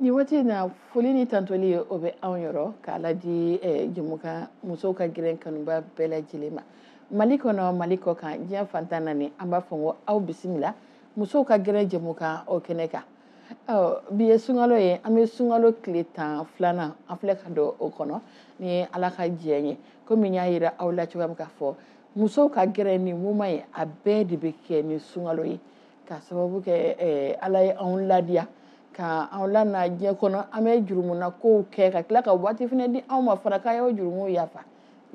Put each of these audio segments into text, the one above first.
nin waati in na foli ni tandoli ye o bɛ anw yɔrɔ k'a ladi eh, jɛmukan musow ka gɛrɛn kanubaa bɛɛ lajɛlen ma mali kɔnɔ mali kɔkan diɲɛ fan tan ni naani an b'a fɔ ko aw bisimila musow ka gɛrɛn jɛmukan o kɛnɛ kan bi ye sunkalo ye an bɛ sunkalo tile tan filanan an filɛ ka don o kɔnɔ ni ala ka diɲɛ ye komi n y'a yira aw la cogoya min k'a fɔ musow ka gɛrɛn nin mumɛ ye a bɛɛ de bɛ kɛ ni sunkalo ye ka sababu kɛ eh, ala ye anw ladiya ka anw lana diɲɛ kɔnɔ an bɛ jurumuna kow kɛ ka tila ka waati fana di anw ma fana k'a y'o jurumuw yafa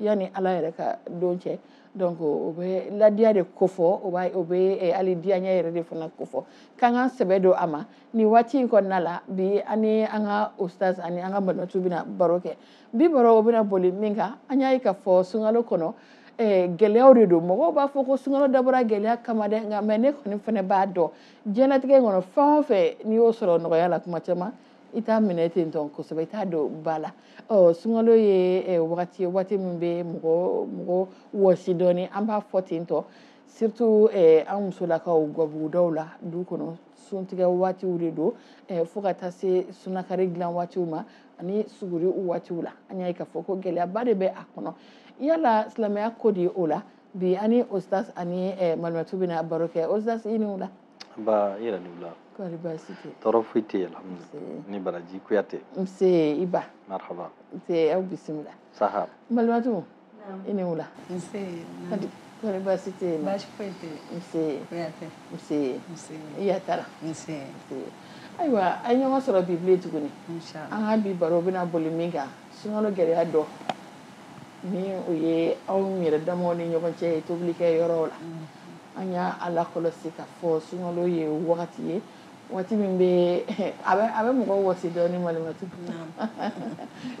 yanni ala yɛrɛ ka don cɛ donc o bɛ ladiya de kofɔ o b'a o bɛ eh, hali diyaɲɛ yɛrɛ de fana kofɔ k'an k'an sɛbɛ don a ma nin waati in kɔnɔna la bi an ni an ka ustaz ani an ka malimatu bɛna baro kɛ bi baro bɛna boli min kan an y'a ye k'a fɔ sunkalo kɔnɔ eh, gɛlɛyaw de don mɔgɔw b'a fɔ ko sunkalo dabɔra gɛlɛya kama dɛ nka mɛ ne kɔni fana b'a dɔn diɲɛlatigɛ kɔnɔ fɛn o fɛn n'i y'o sɔrɔ nɔgɔya la kuma caman i t'a minɛ ten tɔn kosɛbɛ i t'a don ba la ɔ sunkalo ye eh, wagati ye waati min bɛ mɔgɔ mɔgɔ wɔsi dɔɔni an b'a fɔ ten tɔ surtout eh, an musolakaw gabugudaw la du kɔnɔ suntigɛ waatiw de don eh, fo ka taa se sunakari dilan waatiw ma ani suguri u waatiw la an y'a ye k'a fɔ ko gɛlɛyaba de bɛ a kɔnɔ yala silamɛya ko di o la bi an ni ostas ani eh, malimatu bɛna baro kɛ ostas i ni wula nba i yɛrɛ ni wula kɔri baasi tɛ tɔɔrɔ foyi tɛ yen alhamdulilayi i ni baraji kuyate nse nba marhaba nse aw bisimila saha malimatu I ni wula kɔri baasi tɛ yen baasi foyi tɛ yen i yatara ayiwa an ye ɲɔgɔn sɔrɔ bi bilen tuguni an ka bi baro bɛna boli min kan sunkalo gɛlɛya dɔ ni o ye anw yɛrɛ damaw ni ɲɔgɔn cɛ ye tobilikɛ yɔrɔ la an y'a lakɔlɔsi k'a fɔ sunkalo ye wagati ye waati min bɛ a bɛ a bɛ mɔgɔ wɔsi dɔɔni malimatu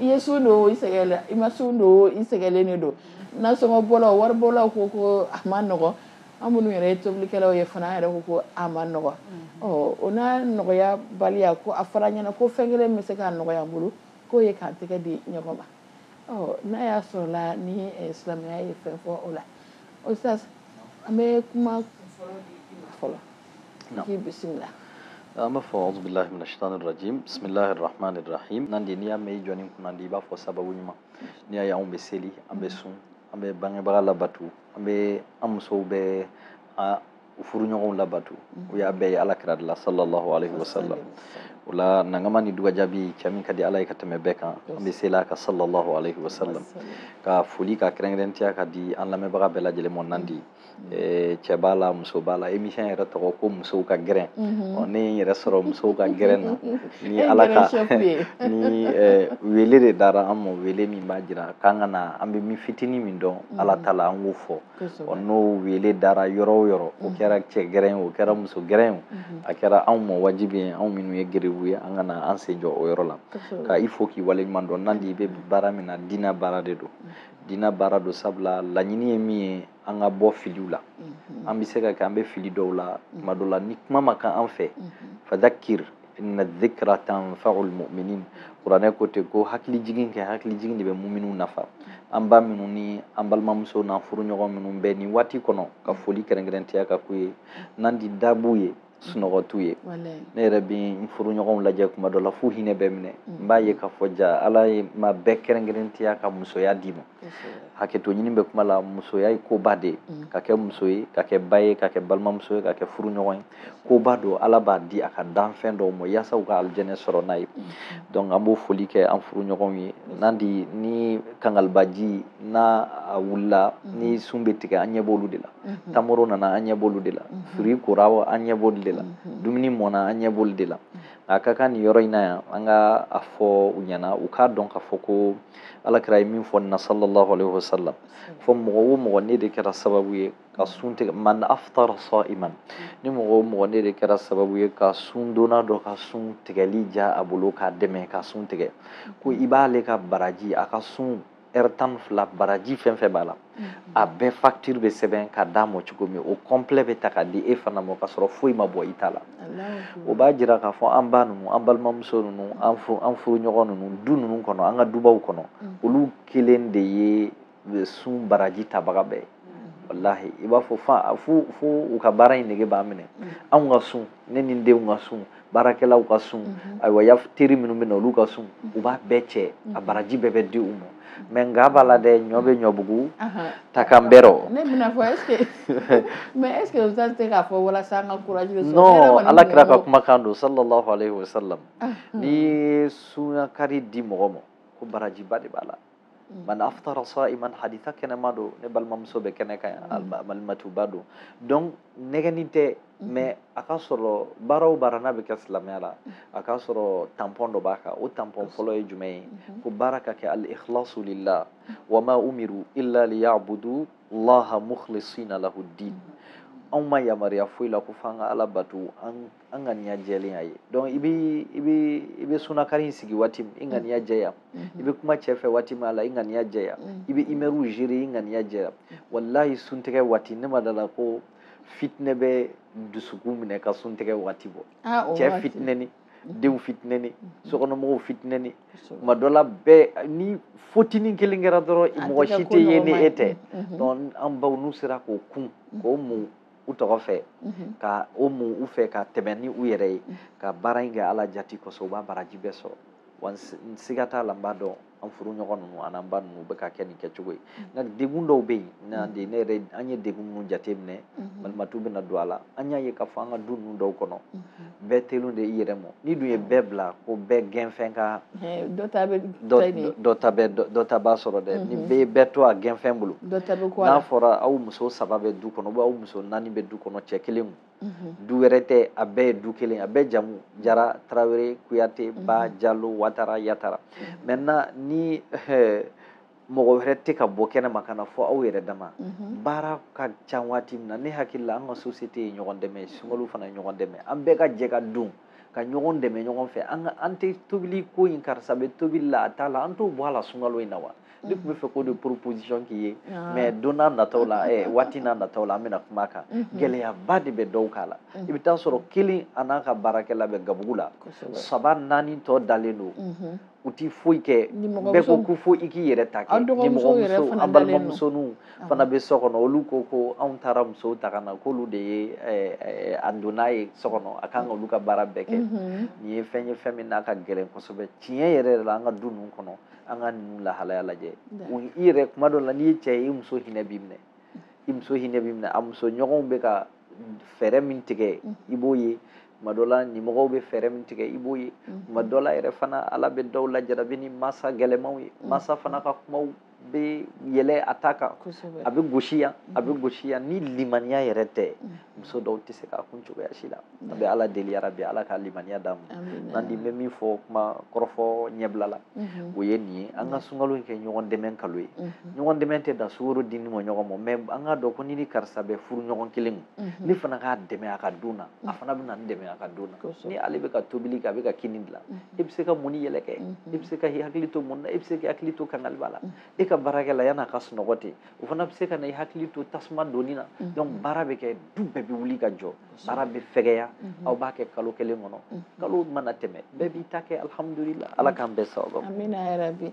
i ye sun don i sɛgɛnna i ma sun don i sɛgɛnlen de don nasɔngɔ bɔlaw wari bɔlaw ko ko a man nɔgɔ an minnu yɛrɛ ye tobilikɛlaw ye fana an yɛrɛ ko ko a man nɔgɔ ɔ o n'a nɔgɔya baliya ko a fɔra n ɲɛna ko fɛn kelen bɛ se k'a nɔgɔya an bolo k'o ye k'an tɛgɛ di ɲɔgɔn ma ɔ n'a y'a sɔrɔ la ni eh, silamɛya ye fɛn fɔ o la o sisan an bɛ kuma fɔlɔ di i ma fɔlɔ i bisimila an b'a fɔ auzu bilahi mina shitani rajim bisimilahi rahmani rahim nan de n'i y'a mɛn i jɔn kunnandi i b'a fɔ sababu ɲuman n'i y'a ye anw bɛ seli an bɛ sun an bɛ bangebaga labato an bɛ an musow bɛ an u furuɲɔgɔnw labato an y'a bɛɛ ye ala kira de la sallallahu alaihi wasallam o la nankama ni dugajabi cɛ min ka di ala ye ka tɛmɛ bɛɛ kan an bɛ seli a kan sallallahu alaihi wasallam ka foli ka kɛrɛnkɛrɛnnenya ka di an lamɛnbaga bɛɛ lajɛlen ma nan di Eh, cɛ b'a la muso b'a la émission yɛrɛ tɔgɔ ko musow ka gɛrɛn mhm. ɔ ne ye n yɛrɛ sɔrɔ musow ka gɛrɛn na ni ala ka ni eh, wele de dara an ma wele min b'a jira k'an ka na an bɛ min fitinin min dɔn mhm. ala ta la an k'o fɔ ɔ n'o wele dara yɔrɔ o yɔrɔ o mhm. kɛra cɛ gɛrɛn o kɛra muso gɛrɛn o a kɛra anw ma wajibi ye anw minnu ye gerebu ye an ka na an sen jɔ o yɔrɔ la ka i fo k'i waleɲuman dɔn nandi i bɛ baara min na diinɛ baara de don diinɛ baara don sabula laɲini ye min ye an ka bɔ filiw la mhm. an bɛ se ka kɛ an bɛ fili dɔw la mhm. tuma dɔw la ni kuma ma kan an fɛ mhm. fadhakir inna dhikra tanfa'ul mu'minin kuranɛ ko ten ko hakili jigin kɛ hakili jigin de bɛ muminunw nafa an ba minnu ni an balimamuso n'an furuɲɔgɔn minnu bɛ nin waati kɔnɔ ka foli kɛrɛnkɛrɛntiya ka k'u ye nandi dabuw ye sunɔgɔ t'u ye ne yɛrɛ bɛ n furuɲɔgɔnw lajɛ kuma dɔ la f'u hinɛ bɛ n minɛ mm. n b'a ye k'a fɔ ja ala ye ma bɛɛ kɛrɛnkɛrɛntiya ka musoya d'i ma hakɛto ɲini bɛ kuma la musoya ye koba de ye mm. ka kɛ muso ye ka kɛ ba ye ka kɛ balimamuso ye ka kɛ furuɲɔgɔn ye koba don ala b'a di a ka danfɛn dɔw ma yaasa u ka alijɛnɛ sɔrɔ n'a ye mm. donc an b'o foli kɛ an furuɲɔgɔnw ye nandi ni kangalibaji n'a a wulila ni sun bɛ tigɛ an ɲɛ b'olu de la tamaro nana an ɲɛ b'olu de la fruit kora an ɲɛ b'olu de la dumuni mɔna an ɲɛ b'olu de la a ka kan nin yɔrɔ in na yan an ka a fɔ u ɲɛna u k'a dɔn k'a fɔ ko ala kira ye min fɔ nin na sallallahu alaihi wasallam fɔ mɔgɔ o mɔgɔ n'e de kɛra sababu ye ka sun tigɛ man aftara sa'iman ni mɔgɔ o mɔgɔ n'e de kɛra sababu ye ka sundonna dɔ ka sun tigɛli diya a bolo k'a dɛmɛ ka sun tigɛ ko i b'ale ka baraji a ka sun ɛri tan ni fila baraji fɛn fɛn b'a la a bɛɛ facture bɛ sɛbɛn ka d'a ma cogo min o complet bɛ ta ka di e fana ma k'a sɔrɔ foyi ma bɔ i ta la o b'a jira k'a fɔ an ba ninnu an balimamuso ninnu an furu an furuɲɔgɔn ninnu du ninnu kɔnɔ an ka dubaw kɔnɔ olu kelen de ye sun baraji tabaga bɛɛ ye walahi i b'a fɔ fa fo fo u ka baara in nege b'a minɛ anw ka sun ne ni n denw ka sun baarakɛlaw ka sun ayiwa ya teri minnu bɛ na olu ka sun u b'a bɛɛ cɛ a baraji bɛɛ bɛ di u ma mais nka b'a la dɛ ɲɔ bɛ ɲɔbugu ta kan bɛrɛ ne bɛna fɔ est-ce que mais est-ce que o tɛ se k'a fɔ walasa an ka courage bɛ sɔrɔ ala kira ka kumakan don sallallahu alayhi wa sallam n'i ye sunakari di mɔgɔ ma ko barajiba de b'a la man aftara sa'iman haditha kɛnɛman don ne balimamuso bɛ kɛnɛ kan yan alimatuba don donc nɛgɛni tɛ mais a ka sɔrɔ baara o baara n'a bɛ kɛ silamɛya la a ka sɔrɔ tampɔn dɔ b'a kan o tampɔn fɔlɔ ye jumɛn ye ko baara ka kɛ al ikhlasu lillah wa ma umiru illa liyabudu laha mukhlisina lahu din anw ma yamaruya foyi la ko f'an ka ala bato an an ŋaniya jɛlen a ye donc i bɛ i bɛ i bɛ sunakari in sigi waati min i ŋaniya mm-hmm. jɛya mm-hmm. i bɛ kuma cɛ fɛ waati min a la i ŋaniya jɛya mm-hmm. i bɛ humeurs gérer i ŋaniya jɛya walahi suntigɛ waati ne ma da a la ko fitinɛ bɛ dusukun minɛ ka suntigɛ waati bɔ ah, cɛ fitinɛni denw fitinɛni sokɔnɔmɔgɔw fitinɛni tuma dɔ la bɛɛ ni fotinin kelen kɛra dɔrɔn mɔgɔ si tɛ ye ni e tɛ donc an baw n'u sera k'o kun k'o mun u tɔgɔ fɛ ka o mun u fɛ ka tɛmɛn ni u yɛrɛ ye ka baara in kɛ ala jati kosɔn u b'a baraji bɛɛ sɔrɔ wa n siga t'a la n b'a dɔn an furu ɲɔgɔn ninnu an'an ba ninnu bɛ ka kɛ nin kɛcogo ye nka degun dɔw bɛ yen n'an de ne yɛrɛ an ye degun minnu jateminɛ balimatu bɛna don a la an y'a ye k'a fɔ an ka du ninnu dɔw kɔnɔ bɛɛ telu de i yɛrɛ mɔ n'i dun ye bɛɛ bila ko bɛɛ gɛnfɛn ka dɔ ta bɛ dɔ ta bɛ dɔ ta b'a sɔrɔ dɛ ni bɛɛ ye bɛɛ to a gɛnfɛn bolo dɔ ta bɛ n'a fɔra aw muso saba bɛ du kɔnɔ aw muso naani bɛ du kɔnɔ cɛ kelen kun du wɛrɛ tɛ a bɛɛ ye du kelen a bɛɛ jamu jara tarawele kuyate ba jalo watara yatara maintenant ni mɔgɔ wɛrɛ tɛ ka bɔ kɛnɛ ma ka na fɔ aw yɛrɛ dama mhm. baara ka ca waati min na ne hakili la an ka société ye ɲɔgɔn dɛmɛ sunkalo fana ye ɲɔgɔn dɛmɛ an bɛɛ ka jɛ ka don ka ɲɔgɔn dɛmɛ ɲɔgɔn fɛ an ka an tɛ tobili ko in karisa bɛ tobili la a t'a la an t'o bɔ a la sunkalo in na wa ne tun bɛ fɛ k'o de proposition k'i ye ah. mais don n'a nataw la eh, waati n'a nataw la an bɛna kuma a kan mhm. gɛlɛyaba de bɛ dɔw kan a la mhm. i bɛ t'a sɔrɔ kelen a n'a ka baarakɛla bɛ gabugu la saba naani tɔ dalen don mhm. u tɛ foyi kɛ bɛɛ ko ko fo i k'i yɛrɛ ta kɛ nimɔgɔmuso an balimamusoninw fana bɛ so kɔnɔ olu ko ko anw taara musow ta ka na k'olu de ye a donna ye so kɔnɔ a kan ka olu ka baara bɛɛ kɛ nin ye fɛn ye fɛn min n'a ka gɛlɛn kosɛbɛ tiɲɛ yɛrɛ yɛrɛ la an ka du ninnu kɔnɔ an ka ninnu lahalaya lajɛ i yɛrɛ kuma dɔ la n'i ye cɛ ye i muso hinɛ b'i minɛ i muso hinɛ b'i minɛ a muso ɲɔgɔnw bɛ ka fɛɛrɛ min tigɛ i b'o ye tuma dɔ la nimɔgɔw bɛ fɛɛrɛ min tigɛ i b'o ye mhm. tuma dɔ la yɛrɛ fana ala bɛ dɔw lajarabi ni masa gɛlɛmanw ye mhm. masa fana ka kumaw bɛ yɛlɛ a ta kan a bɛ gosi yan a bɛ mhm. gosi yan ni limaniya yɛrɛ tɛ muso dɔw tɛ se k'a kun cogoya si la an bɛ ala deli yarabi ala ka limaniya d'an ma n'an di bɛ min fɔ kuma kɔrɔfɔ ɲɛbila la o ye nin ye an ka sunkalo in kɛ ɲɔgɔn dɛmɛ kalo ye ɲɔgɔn dɛmɛ tɛ dan sukoro dini ma ɲɔgɔn ma mais an k'a dɔn ko ne ni karisa bɛ furu ɲɔgɔn kelen ma mhm. ne fana k'a dɛmɛ a ka don na a mhm. fana bɛna n dɛmɛ a ka don na ni ale bɛ ka tobili kɛ a bɛ ka kini dilan mhm. e bɛ se ka mɔni yɛlɛ kɛ e bɛ se ka i hakili to mun na e bɛ se ka hakili to kangaliba la e ka baarakɛla yan'a ka sunɔgɔ ten o fana bɛ se ka na i hakili to tasuma donni na donc baara bɛ kɛ du bɛɛ bɛ wuli ka jɔ baara bɛ fɛgɛya aw b'a kɛ kalo kelen kɔnɔ kalo mana tɛmɛ bɛɛ b'i ta kɛ alihamudulila ala k'an bɛɛ sababu amina yarabi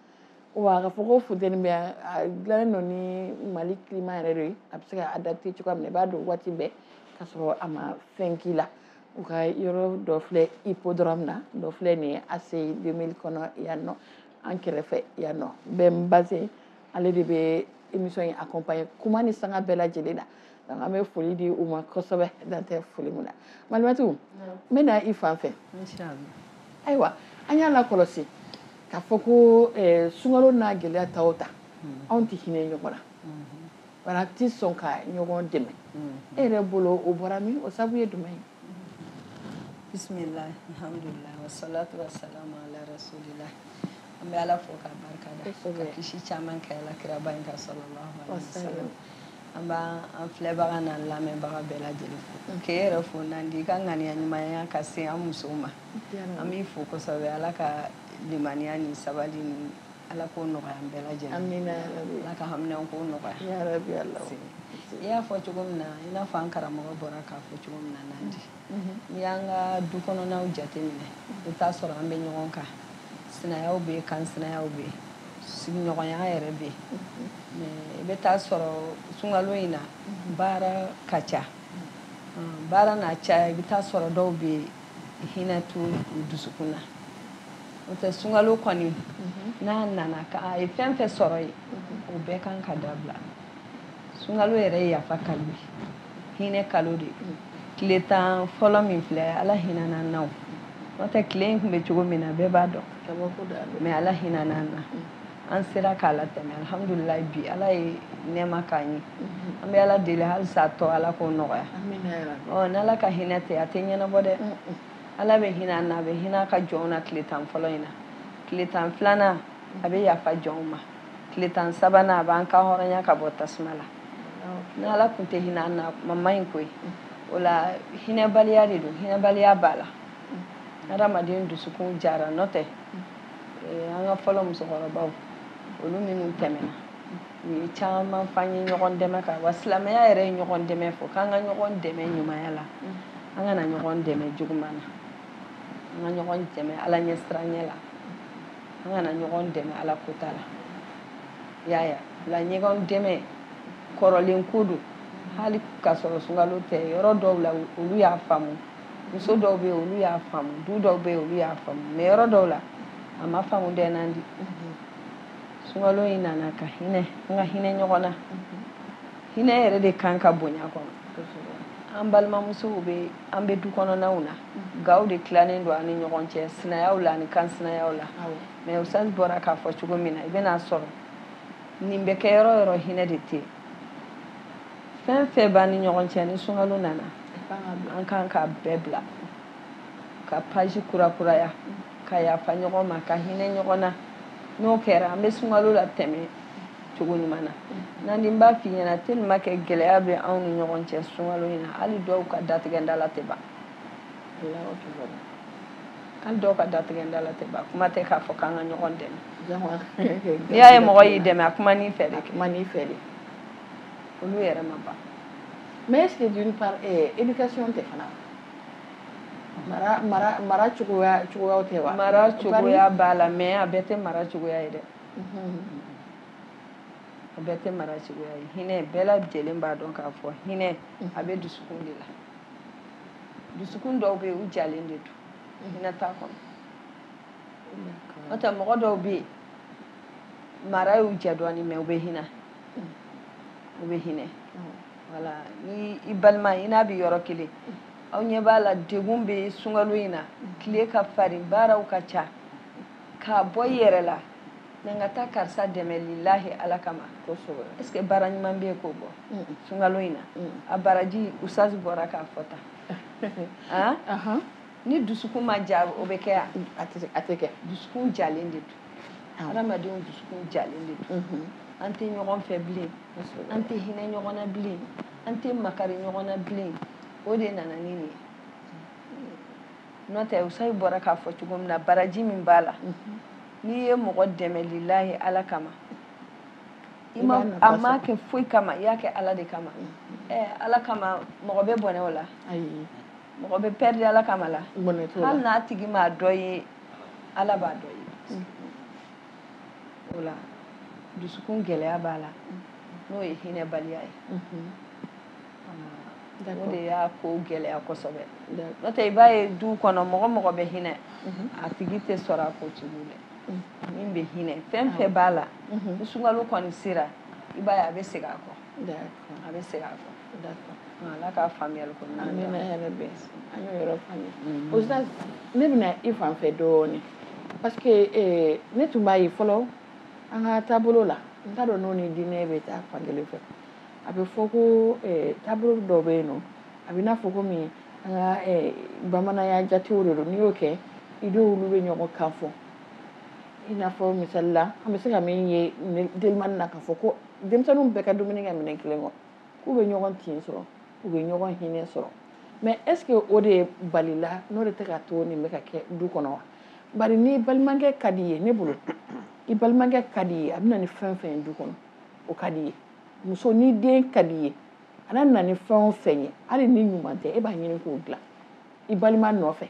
wa k'a fɔ ko funteni bɛ yan a dilannen don ni mali climat yɛrɛ de ye a bɛ se ka adapter cogoya min na i b'a don waati bɛɛ k'a sɔrɔ a ma fɛn k'i la u ka yɔrɔ dɔ filɛ Hippodrome na dɔ filɛ nin ye ACI 2000 kɔnɔ yan nɔ an kɛrɛfɛ yan nɔ bɛn base ale de bɛ émission in accompagner kuma ni sanga bɛɛ lajɛlen na donc an bɛ foli di u ma kosɛbɛ dan tɛ foli min na malimatu n bɛ na i fan fɛ ayiwa an y'a lakɔlɔsi k'a fɔ ko eh, sunkalo n'a gɛlɛya ta o ta mm-hmm. anw tɛ hinɛ ɲɔgɔn na mm-hmm. baara an tɛ sɔn ka ɲɔgɔn dɛmɛ mm-hmm. e yɛrɛ bolo o bɔra min o sabu ye jumɛn ye bisimila alhamdulilayi wasalatu wasalamu ala rasulila an bɛ ala fo k'a barika da ka kisi caman kɛ ala kiraba in kan sallallahu alaihi wasallam an b'an filɛbaga n'an lamɛnbaga bɛɛ lajɛlen fo mm. k'e yɛrɛ fo Nandi i ka ŋaniya ɲumanya ka se an musow ma an b'i fo kosɛbɛ ala ka limaniya ni sabali ni Ala ko nɔgɔya an bɛɛ lajɛlen amina Ala ka haminanko nɔgɔya yarabi Ala i y'a fɔ cogo min na i n'a fɔ an karamɔgɔ bɔra k'a fɔ cogo min na Nandi mhm. n'i y'an ka du kɔnɔnaw jateminɛ i bɛ taa sɔrɔ an bɛ ɲɔgɔn kan sinayaw bɛ yen kansinayaw bɛ yen sigiɲɔgɔnya yɛrɛ bɛ yen mhm. i bɛ taa sɔrɔ sunkalo in na mhm. baara ka ca baara n'a caya i bɛ taa sɔrɔ dɔw bɛ yen hinɛ t'u dusukun na n'o tɛ sunkalo kɔni n'a nana ka a ye fɛn fɛn sɔrɔ yen o bɛɛ kan ka dabila sunkalo yɛrɛ ye yafa kalo ye hinɛ kalo de tile tan fɔlɔ min filɛ ala hinɛna an na o n'o tɛ tile in tun bɛ cogo min na bɛɛ b'a dɔn mais ala hinɛna an na an sera k'a latɛmɛ alhamdulilayi bi ala ye nɛɛma k'an ye mm-hmm. an bɛ ala deli halisa a tɔ ala k'o nɔgɔya ɔ n'ala ka hinɛ tɛ a tɛ ɲɛnabɔ dɛ ala bɛ hinɛ an na a bɛ hinɛ a ka jɔnw na tile tan fɔlɔ in na tile tan filanan a bɛ yafa jɔnw ma tile tan sabanan a b'an kan hɔrɔnya ka bɔ tasuma la ni ala tun tɛ hinɛ an na kuma man ɲi koyi mm. o la hinɛbaliya de don hinɛbaliya b'a la mm. hadamaden dusukun jara n'o tɛ mm. eh, an ka fɔlɔ musokɔrɔbaw olu minnu tɛmɛna u ye caman f'an ye ɲɔgɔn dɛmɛ kan wa silamɛya yɛrɛ ye ɲɔgɔn dɛmɛ fɔ k'an ka ɲɔgɔn dɛmɛ ɲumanya la an kana ɲɔgɔn dɛmɛ juguman na an ka ɲɔgɔn dɛmɛ ala ɲɛsiranɲɛ la an kana ɲɔgɔn dɛmɛ ala ko t'a la y'a ya la ɲɔgɔn dɛmɛ kɔrɔlen ko don hali ka sɔrɔ sunkalo tɛ yɔrɔ dɔw la olu y'a faamu muso dɔw bɛ olu y'a faamu du dɔw bɛ olu y'a faamu mɛ yɔrɔ dɔw la a ma faamu dɛ nandi sunkalo in nana ka hinɛ an ka hinɛ ɲɔgɔn na hinɛ yɛrɛ de kan ka bonya kɔnɔ an balimamusow bɛ an bɛ du kɔnɔnaw na gaw de tilanen don an ni ɲɔgɔn cɛ sinayaw la ani kansinayaw la mɛ usazi bɔra k'a fɔ cogo min na i bɛn'a sɔrɔ nin bɛ kɛ yɔrɔ yɔrɔ hinɛ de tɛ fɛn fɛn b'an ni ɲɔgɔn cɛ ni sunkalo nana an kan ka bɛɛ bila ka page kurakuraya ka yafa ɲɔgɔn ma ka hinɛ ɲɔgɔn na n'o kɛra an bɛ sunkalo la tɛmɛ cogo ɲuman na nandi n b'a f'i ɲɛna dɛ n'o ma kɛ gɛlɛya bɛ anw ni ɲɔgɔn cɛ sunkalo in na hali dɔw ka datigɛnda la tɛ ban hali dɔw ka datigɛnda la tɛ ban kuma tɛ k'a fɔ k'an ka ɲɔgɔn dɛmɛ n'i y'a ye mɔgɔ y'i dɛmɛ a kuma n'i fɛ de kuma n'i fɛ de olu yɛrɛ ma ban mɛ est ce que d'une part eh, éducation tɛ fana mara mara mara cogoya cogoyaw tɛ wa mara cogoya b'a la mɛ a bɛɛ tɛ mara cogoya ye dɛ mhm. a bɛɛ tɛ mara cogoya ye hinɛ bɛɛ lajɛlen b'a dɔn k'a fɔ hinɛ mhm. a bɛ dusukun de la dusukun dɔw bɛ yen u jalen de don mhm. hinɛ t'a kɔnɔ n'o tɛ mɔgɔ dɔw bɛ yen mara y'u ja dɔɔnin mɛ u bɛ hinɛ o bɛ hinɛ wala ni i balima i n'a bɛ yɔrɔ kelen aw ɲɛ b'a la degun bɛ sunkalo in na tile ka farin baaraw ka ca k'a bɔ i yɛrɛ la na n ka taa karisa dɛmɛ lilahi ala kama est ce que baara ɲuman bɛ yen k'o bɔ sunkalo in na a baraji usazi bɔra k'a fɔ tan ni dusukun ma ja o bɛ kɛ yan a tɛ kɛ dusukun jalen de don adamadenw dusukun jalen de don mhm. an tɛ ɲɔgɔn fɛ bilen an tɛ hinɛ ɲɔgɔn na bilen an tɛ makari ɲɔgɔn na bilen o de nana ni nin ye n'o tɛ usazi bɔra k'a fɔ cogo min na baraji min b'a la mhm. n'i ye mɔgɔ dɛmɛ lilahi ala kama i ma a ma kɛ foyi kama i y'a kɛ ala de kama mhm. eh, ala kama mɔgɔ bɛ bɔnɛ o la mɔgɔ bɛ pɛridi ala kama la hali n'a tigi m'a dɔn i ye ala b'a dɔn i ye mm. o la dusukun gɛlɛya b'a la mm. n'o ye hinɛbaliya ye mm-hmm. o de y'a ko gɛlɛya kosɛbɛ n'o tɛ i b'a ye du kɔnɔ mɔgɔ mɔgɔ bɛ hinɛ mm-hmm. a tigi tɛ sɔrɔ a ko cogo dɛ mm-hmm. min bɛ hinɛ fɛn fɛn b'a la ni sunkalo kɔni sera i b'a ye a bɛ segin a kɔ a bɛ segin a kɔ ala ka faamuyali ko an bɛ na yɛrɛ bɛn an y'o yɔrɔ faamuya mm-hmm. o sisan ne bɛ na i fan fɛ dɔɔnin parce que eh, ne tun b'a ye fɔlɔ an ka taabolo la n t'a dɔn n'o ni diinɛ bɛ taa fan kelen fɛ a bɛ fɔ ko eh, taabolo dɔ bɛ yen nɔ a bɛ n'a fɔ ko min an ka eh, bamananya jatew de don n'i y'o kɛ i denw olu bɛ ɲɔgɔn kan fɔ i n'a fɔ misali la an bɛ se ka min ye delimani na k'a fɔ ko denmisɛnninw bɛɛ ka dumuni kɛ minɛn kelen kɔnɔ k'u bɛ ɲɔgɔn tin sɔrɔ u bɛ ɲɔgɔn hinɛ sɔrɔ mais est-ce que o dabila de tɛ ka to nin bɛ ka kɛ du kɔnɔ wa bari ni balimakɛ ka di ye ne bolo i balimakɛ ka di ye a bɛ na ni fɛn fɛn ye du kɔnɔ o ka di ye muso ni den ka di ye a nana ni fɛn o fɛn ye hali ni ɲuman tɛ e b'a ɲini k'o dilan i balima nɔfɛ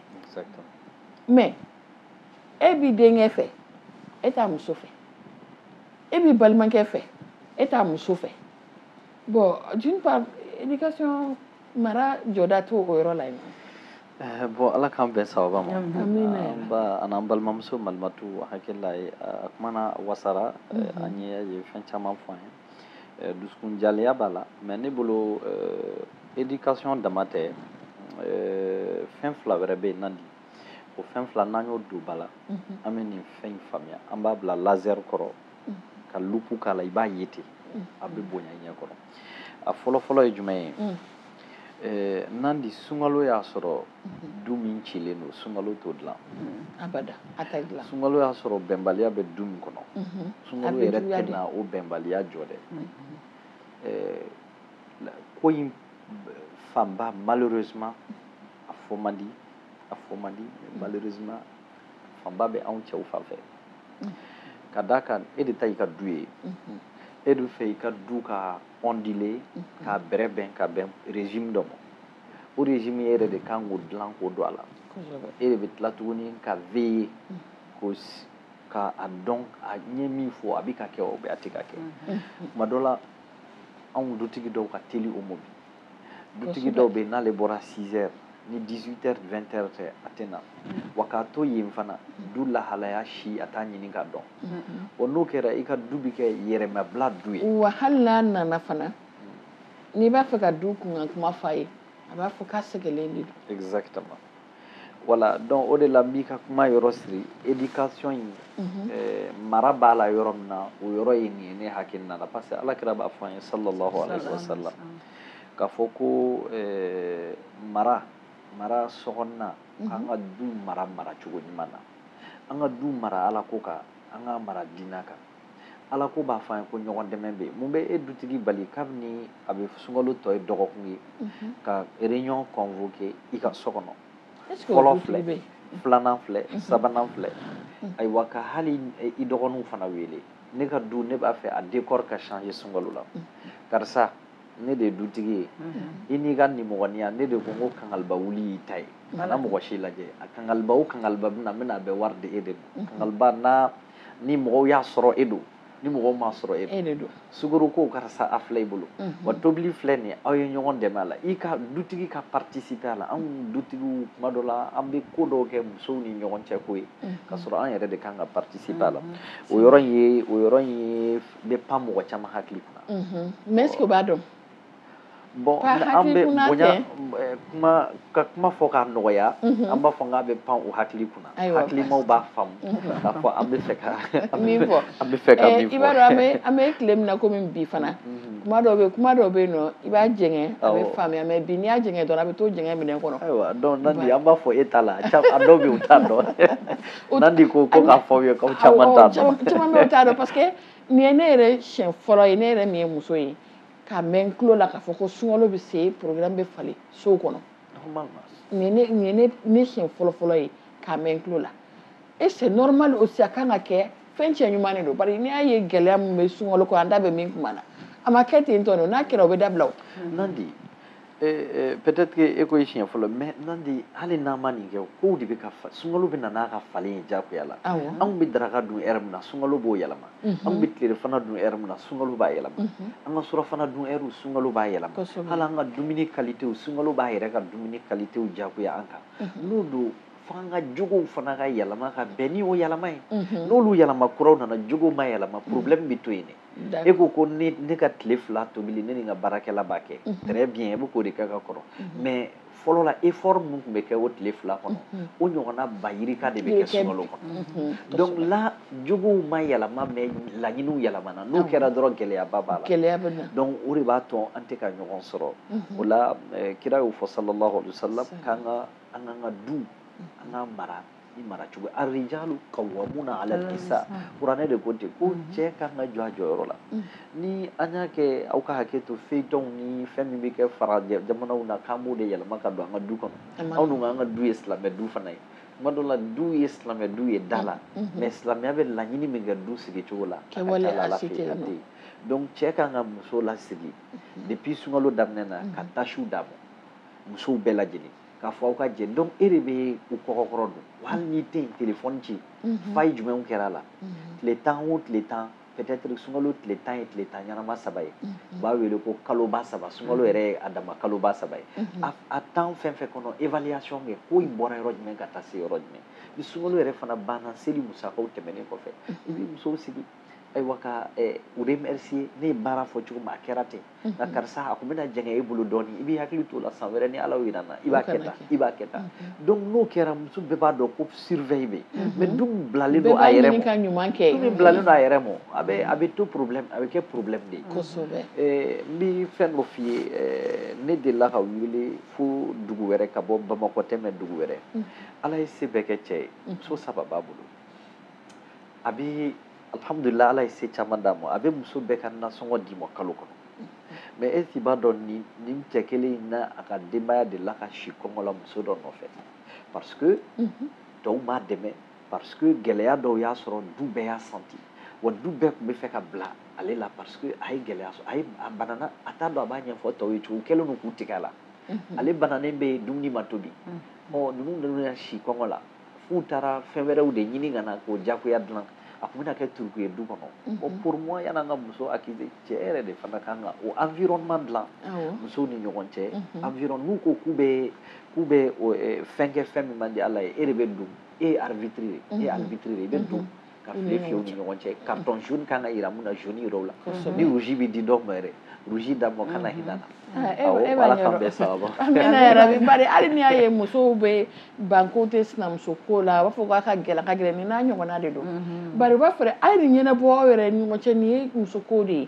mais e b'i denkɛ fɛ e t'a muso fɛ e b'i balimakɛ fɛ e t'a muso fɛ bon d'une part éducation mara jɔda t'o o yɔrɔ la yen eh, bon ala k'an bɛn sababa ma an ba ani an balimamuso malimatu hakilila ye a kumana wasara eh, mhm. a ye a ye fɛn caman fɔ a ye eh, dusukun jaleya b'a la mais ne bolo éducation dama tɛ fɛn fila wɛrɛ bɛ yen nandi o fɛn fila n'an y'o don ba la an bɛ nin fɛn in faamuya an b'a bila laser kɔrɔ ka loupe k'a la i b'a ye ten a bɛ bonya i ɲɛ kɔrɔ a fɔlɔfɔlɔ ye jumɛn ye eh, nandi sunkalo y'a sɔrɔ du min cilen don sunkalo t'o dilan abada a tɛ dilan sunkalo y'a sɔrɔ bɛnbaliya bɛ du min kɔnɔ mhm. sunkalo yɛrɛ tɛna o bɛnbaliya jɔ dɛ mhm. eh, ko in fanba malheureusement a fɔ man di a fɔ man di mm. malheureusement fanba bɛ anw cɛw fan fɛ mm. ka d'a kan e de ta y'i ka du ye mm-hmm. e de fɛ i ka du ka ondile mm-hmm. k'a bɛrɛbɛn ka bɛn régime dɔ ma o régime e yɛrɛ de kan k'o dilan k'o don a la e de bɛ tila tuguni ka veiller mm. k'o ka a dɔn an ye min fɔ a bɛ ka kɛ ou bien a tɛ ka kɛ mm-hmm. tuma dɔ la anw dutigi dɔw ka teli o ma bi dutigi dɔw bɛ yen n'ale bɔra 6 heures ni 18 heures 20 heures tɛ a tɛ na wa k'a to yen fana du lahalaya si a t'a ɲini k'a dɔn wa n'o kɛra i ka du bɛ kɛ yɛrɛmabila du ye wa hali n'a nana fana n'i b'a fɛ ka du kunkan kuma fɔ a ye a b'a fɔ k'a sɛgɛlen de don exactement voilà donc o de la n b'i ka kuma yɔrɔ siri éducation ye eh, mara b'a la yɔrɔ min na o yɔrɔ ye nin ye ne hakilina la parce que ala kira b'a fɔ an ye sallallahu alaihi wa sallam k'a fɔ ko eh, mara mara sɔgɔnna mhm. an ka du mara mara cogo ɲuman na an ka du mara ala ko kan an ka mara diina kan Ala ko b'a fɔ an ye ko ɲɔgɔn dɛmɛ bɛ yen mun bɛ e dutigi bali kabini a bɛ sunkalo tɔ ye dɔgɔkun ye mhm. ka réunion convoquer i ka so kɔnɔ fɔlɔ filɛ filanan filɛ mhm. sabanan filɛ mhm. ayiwa ka hali e, i dɔgɔninw fana wele ne ka du ne b'a fɛ a décor ka changer sunkalo la karisa ne de ye dutigi ye i n'i ka nimɔgɔniya ne de ko n ko kangaliba wuli y'i ta ye kana mɔgɔ si lajɛ a kangaliba o kangaliba bɛna n bɛna a bɛɛ wari di e de ma kangaliba n'a ni mɔgɔw y'a sɔrɔ e don ni mɔgɔw m'a sɔrɔ e, e de don suguri ko karisa a filɛ i bolo mhm. wa tobili filɛ ni aw ye ɲɔgɔn dɛmɛ a la i ka dutigi ka participe a la anw dutigiw kuma dɔ la an bɛ ko dɔw kɛ musow ni ɲɔgɔn cɛ ko ye mhm. ka sɔrɔ an yɛrɛ de kan ka participe a la mhm. o yɔrɔ in ye o yɔrɔ in ye bɛ pan mɔgɔ caman hakili kunna mais est ce que o b'a dɔn bon an bɛ bonya kuma ka kuma fɔ k'a nɔgɔya an b'a fɔ k'a bɛ pan u hakili kunna hakilimaw b'a faamu k'a fɔ an bɛ fɛ ka min fɔ an bɛ fɛ ka min fɔ i b'a dɔn an bɛ tile min na komi bi fana kuma dɔw bɛ kuma dɔw bɛ yen nɔ i b'a jɛngɛ a bɛ faamuya mais bi n'i y'a jɛngɛ dɔrɔn a bɛ to jɛngɛ minɛn kɔnɔ ayiwa donc nandi an b'a fɔ e t'a la a dɔw bɛ yen u t'a dɔn nandi ko ko k'a fɔ aw ye k'aw caman t'a dɔn caman dɔw t'a dɔn parce que nin ye ne yɛrɛ siɲɛ fɔlɔ ye ne yɛrɛ min ye muso ye k'a mɛn tulo la k'a fɔ ko sunkalo bɛ se programme bɛ falen sow kɔnɔ nin ye ne ne ne siɲɛ fɔlɔ fɔlɔ ye k'a mɛn tulo la e c'est normal aussi a kan ka kɛ fɛn cɛɲuman de don bari n'i y'a ye gɛlɛya min bɛ sunkalo kɔ an da bɛ min kuma na a ma kɛ ten tɔ n'a kɛra o bɛ dabila o. nandi Ee peut-être e ko e siɲɛ fɔlɔ mais nandi hali n'an ma nin kɛ kow de bɛ ka sunkalo bɛ na n'a ka falen ye jagoya la anw bɛ daraka dun heure min na sunkalo b'o yɛlɛma anw bɛ tilerɔfana dun heure min na sunkalo b'a yɛlɛma an ka surɔfana dun heure sunkalo b'a yɛlɛma hali an ka dumuni kalite sunkalo b'a yɛrɛ ka dumuni kalite jagoya an kan donc fo an ka jogow fana ka yɛlɛma ka bɛn ni o yɛlɛma ye n'olu yɛlɛma kuraw nana jogow ma yɛlɛma problème bɛ to yen e ko ko ne ka tile fila tobili ne ni n ka baarakɛla b'a kɛ mhm. très bien e bɛ k'o de kɛ ka kɔrɔ mhm. mais fɔlɔ la effort min tun bɛ kɛ o tile fila kɔnɔ mhm. o ɲɔgɔnna ba yirika de bɛ kɛ sunkalo kɔnɔ donc là jogow ma yɛlɛma mais laɲiniw yɛlɛmana n'o kɛra dɔrɔn gɛlɛyaba b'a la gɛlɛya bɛ na donc o de b'a to an tɛ ka ɲɔgɔn sɔrɔ o la eh, kira y'o fɔ sallallahu alaihi wa sallam k'an ka an k'an ka du an k'a mara ni mara cogo arijalu kawamuna ala nisa kuranɛ de ko ten ko cɛ ka kan ka jɔ a jɔyɔrɔ la ni an y'a kɛ aw ka hakɛ to feuilletonw ni fɛn min bɛ kɛ farajɛ jamanaw na k'an b'o de yɛlɛma ka don an ka du kɔnɔ anw dun k'an ka du ye silamɛ du fana ye tuma dɔ la du ye silamɛ du ye da la mais silamɛya bɛ laɲini min kɛ du sigi cogo la a ka ca a la a tɛ yen donc cɛ ka kan ka muso lasigi depuis sunkalo daminɛ na ka tâchew d'a ma musow bɛɛ lajɛlen k'a fɔ aw ka jɛ donc e de bɛ u kɔkɔkɔrɔ don hali n'i tɛ yen telefɔni ci mhm. faille jumɛnw kɛra a la mhm. tile tan o tile tan peut-être sunkalo tile tan ye tile tan ɲɛnama saba ye mhm. u b'a wele ko kaloba saba sunkalo yɛrɛ ye a dama kaloba saba ye a tan fɛn fɛn kɔnɔ évaluation kɛ ko i bɔra yɔrɔ jumɛn ka taa se yɔrɔ jumɛn ni sunkalo yɛrɛ fana banna seli musakaw tɛmɛnen kɔfɛ i b'i musow sigi ayiwa ka eh, u remercier ne ye baara fɔ cogo min a kɛra ten mhm. nka karisa a kun bɛna jɛngɛ e bolo dɔɔni i b'i hakili t'o la san wɛrɛ ni ala y'o yira an na i b'a kɛ tan i b'a kɛ tan mhm. donc n'o kɛra muso bɛɛ b'a dɔn ko surveille bɛ yen mais du min bilalen don a yɛrɛ ma du min bilalen don a yɛrɛ ma a bɛ a bɛ to problème a bɛ kɛ problème de ye kosɛbɛ eh, n bɛ fɛn dɔ f'i ye eh, ne delila ka wuli fo dugu wɛrɛ ka bɔ bamakɔ tɛ mais dugu wɛrɛ ala ye se bɛɛ kɛ cɛ ye muso saba b'a bolo a bɛ alihamudulila ala ye se caman d'a ma a bɛ muso bɛɛ ka nasɔngɔ d'i ma kalo kɔnɔ mais est-ce qu'i b'a dɔn nin nin cɛ kelen in n'a ka denbaya delila ka si kɔngɔ la muso dɔ nɔfɛ parce que tɔw m'a dɛmɛ parce que gɛlɛya dɔw y'a sɔrɔ du bɛɛ y'a sentir wa du bɛɛ tun bɛ fɛ ka bila ale la parce que a ye gɛlɛya sɔrɔ a ye a banana a t'a dɔn a b'a ɲɛfɔ tɔw ye cogo u kɛlen don k'u tigɛ a la ale bananen bɛ yen dumuni ma tobi ɔ ninnu ninnu y'a si kɔngɔ la f'u taara fɛn wɛrɛw de ɲini ka na k'o jagoya dilan a tun bɛna kɛ turuku ye du kɔnɔ mhm. o pour moi yani an ka muso accuser cɛ yɛrɛ de fana kan ka o environnement dilan musow ni ɲɔgɔn cɛ mhm. environ n'u ko k'u bɛ k'u bɛ fɛn kɛ fɛn min man di ala ye e de bɛ don e ye arbitre de ye e ye mhm. arbitre de ye i bɛ don ka file fiyɛ u ni ɲɔgɔn cɛ carton jaune kan ka yira min na jaune yira o la ni rouge bɛ di dɔ ma yɛrɛ rouge d'a ma kana hinɛ na awɔ ala k'an bɛɛ sababa amina yarabi bari hali n'i y'a ye musow bɛ ban k'u tɛ sinamuso ko la u b'a fɔ k'a ka gɛlɛn ka gɛlɛn nin n'a ɲɔgɔnna de don bari u b'a fɔ a ye nin ɲɛnabɔ aw yɛrɛ ni ɲɔgɔn cɛ nin ye muso ko de ye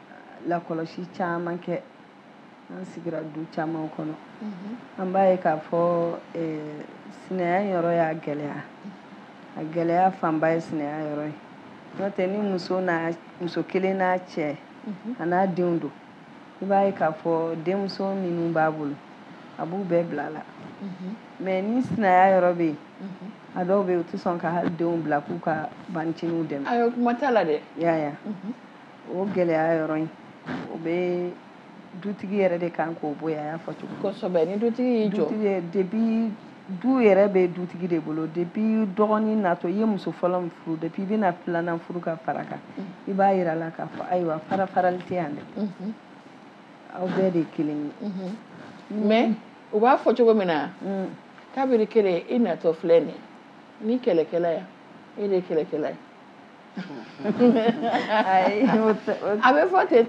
lakɔlɔsi caman kɛ an sigira du caman kɔnɔ an b'a ye k'a fɔ sinaya yɔrɔ y'a gɛlɛya a gɛlɛya fanba ye sinaya yɔrɔ ye n'o tɛ ni muso muso kelen n'a cɛ an'a denw don i b'a ye k'a fɔ denmuso minnu b'a bolo a b'u bɛɛ bila a la mais ni sinaya yɔrɔ bɛ yen a dɔw bɛ yen u tɛ sɔn ka hali denw bila k'u ka bancinin dɛmɛ kuma la dɛ o gɛlɛya yɔrɔ in o bɛ dutigi yɛrɛ de kan k'o bɔ yen y'a fɔ cogo kosɛbɛ ni dutigi y'i jɔ dutigi depuis du yɛrɛ bɛ dutigi de bolo depuis dɔgɔnin natɔ i ye muso fɔlɔ min furu depuis i bɛna filanan furu ka fara a kan i b'a yira a la k'a fɔ ayiwa farafarali tɛ yan dɛ mhm. aw bɛɛ de ye kelen ye mhm. mm. mais u b'a fɔ cogo min na mm. kabiri kelen i natɔ filɛ nin ni kɛlɛkɛla yan e de ye kɛlɛkɛla ye a bɛ fɔ ten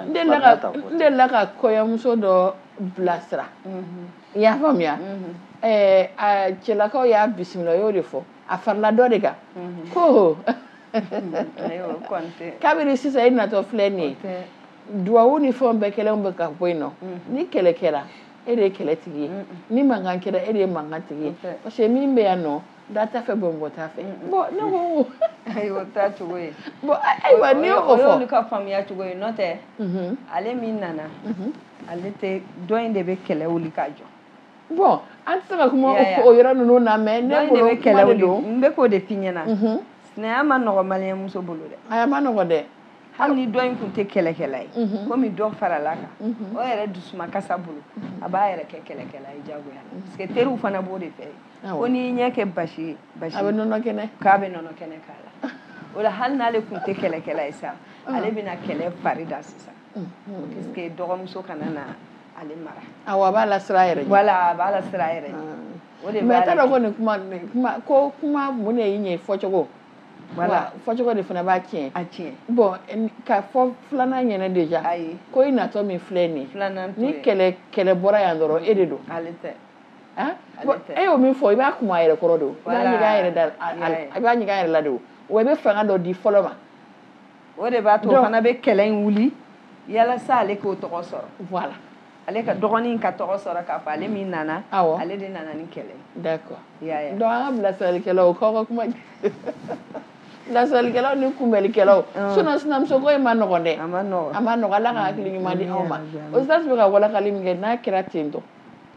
n delila ka kɔɲɔmuso dɔ bilasira mhm. i y'a faamuya mhm. cɛlakaw y'a bisimila y'o de fɔ a farala dɔ de kan mhm. ko kabini sisan i natɔ filɛ nin ye duwawu ni fɛnw bɛɛ kɛlen bɛ ka bɔ yen nɔ ni kɛlɛ kɛra e de ye kɛlɛ tigi ye ni mankan kɛra e de ye mankan tigi ye parce que min bɛ yan nɔ Da ta fɛ bɔn bɔ ta fɛ bɔn ne ko ayiwa taa cogo ye bɔn ayiwa ne o fɔ ka faamuya cogoya o tɛ ale min nana ale tɛ dɔ in de bɛ kɛlɛ wuli k'a jɔ bon an tɛ se ka kuma o yɔrɔ ninnu na mais ne de bɛ kɛlɛ don n bɛ k'o de f'i ɲɛna sinaya ma nɔgɔ malien muso bolo dɛ a ma nɔgɔ dɛ hali ni dɔ in tun tɛ kɛlɛkɛla ye komi dɔ farala a kan o yɛrɛ dusukasi bolo a b'a yɛrɛ kɛ kɛlɛkɛla ye jagoya parce que teriw fana b'o de fɔ ko n'i y'i yɛrɛ kɛ basi ye basi a bɛ nɔnɔ kɛnɛ k'a bɛ nɔnɔ kɛnɛ k'a la o la hali n'ale tun tɛ kɛlɛkɛla ye sa ah. ale bɛna kɛlɛ fari da sisan mm-hmm. puisque dɔgɔmuso kana na ale mara awɔ a b'a lasiran a yɛrɛ ɲɛ voilà a b'a lasiran a yɛrɛ ɲɛ ah. o de mais i t'a dɔn ko nin kuma kuma ko kuma mun de y'i ɲɛ fɔcogo voilà fɔcogo de fana b'a tiɲɛ a tiɲɛ bon ka fɔ filanan ɲɛna déjà ayi ko i natɔ min filɛ nin ye filanan ni kɛlɛ kɛlɛ bɔra yan dɔrɔn e de don ale tɛ e y'o min fɔ i b'a kuma a yɛrɛ kɔrɔ de i b'a ɲininka a yɛrɛ da i b'a ɲininka a yɛrɛ la de wa i bɛ fanga dɔ di fɔlɔ ma o de b'a to o fana bɛ kɛlɛ in wuli yalasa ale k'o tɔgɔ sɔrɔ voilà ale ka dɔgɔnin ka tɔgɔ sɔrɔ k'a fɔ ale min nana awɔ ale de nana ni kɛlɛ ye d'accord i y'a ye donc an ka bilasiralikɛlaw k'aw ka kuma bilasiralikɛlaw ni kunbɛlikɛlaw sinon sinamusoko in ma nɔgɔn dɛ a ma nɔgɔn a ma nɔgɔn ala ka hakili ɲuman di anw ma o sasi bɛ ka walankali min kɛ n'a kɛra ten tɔ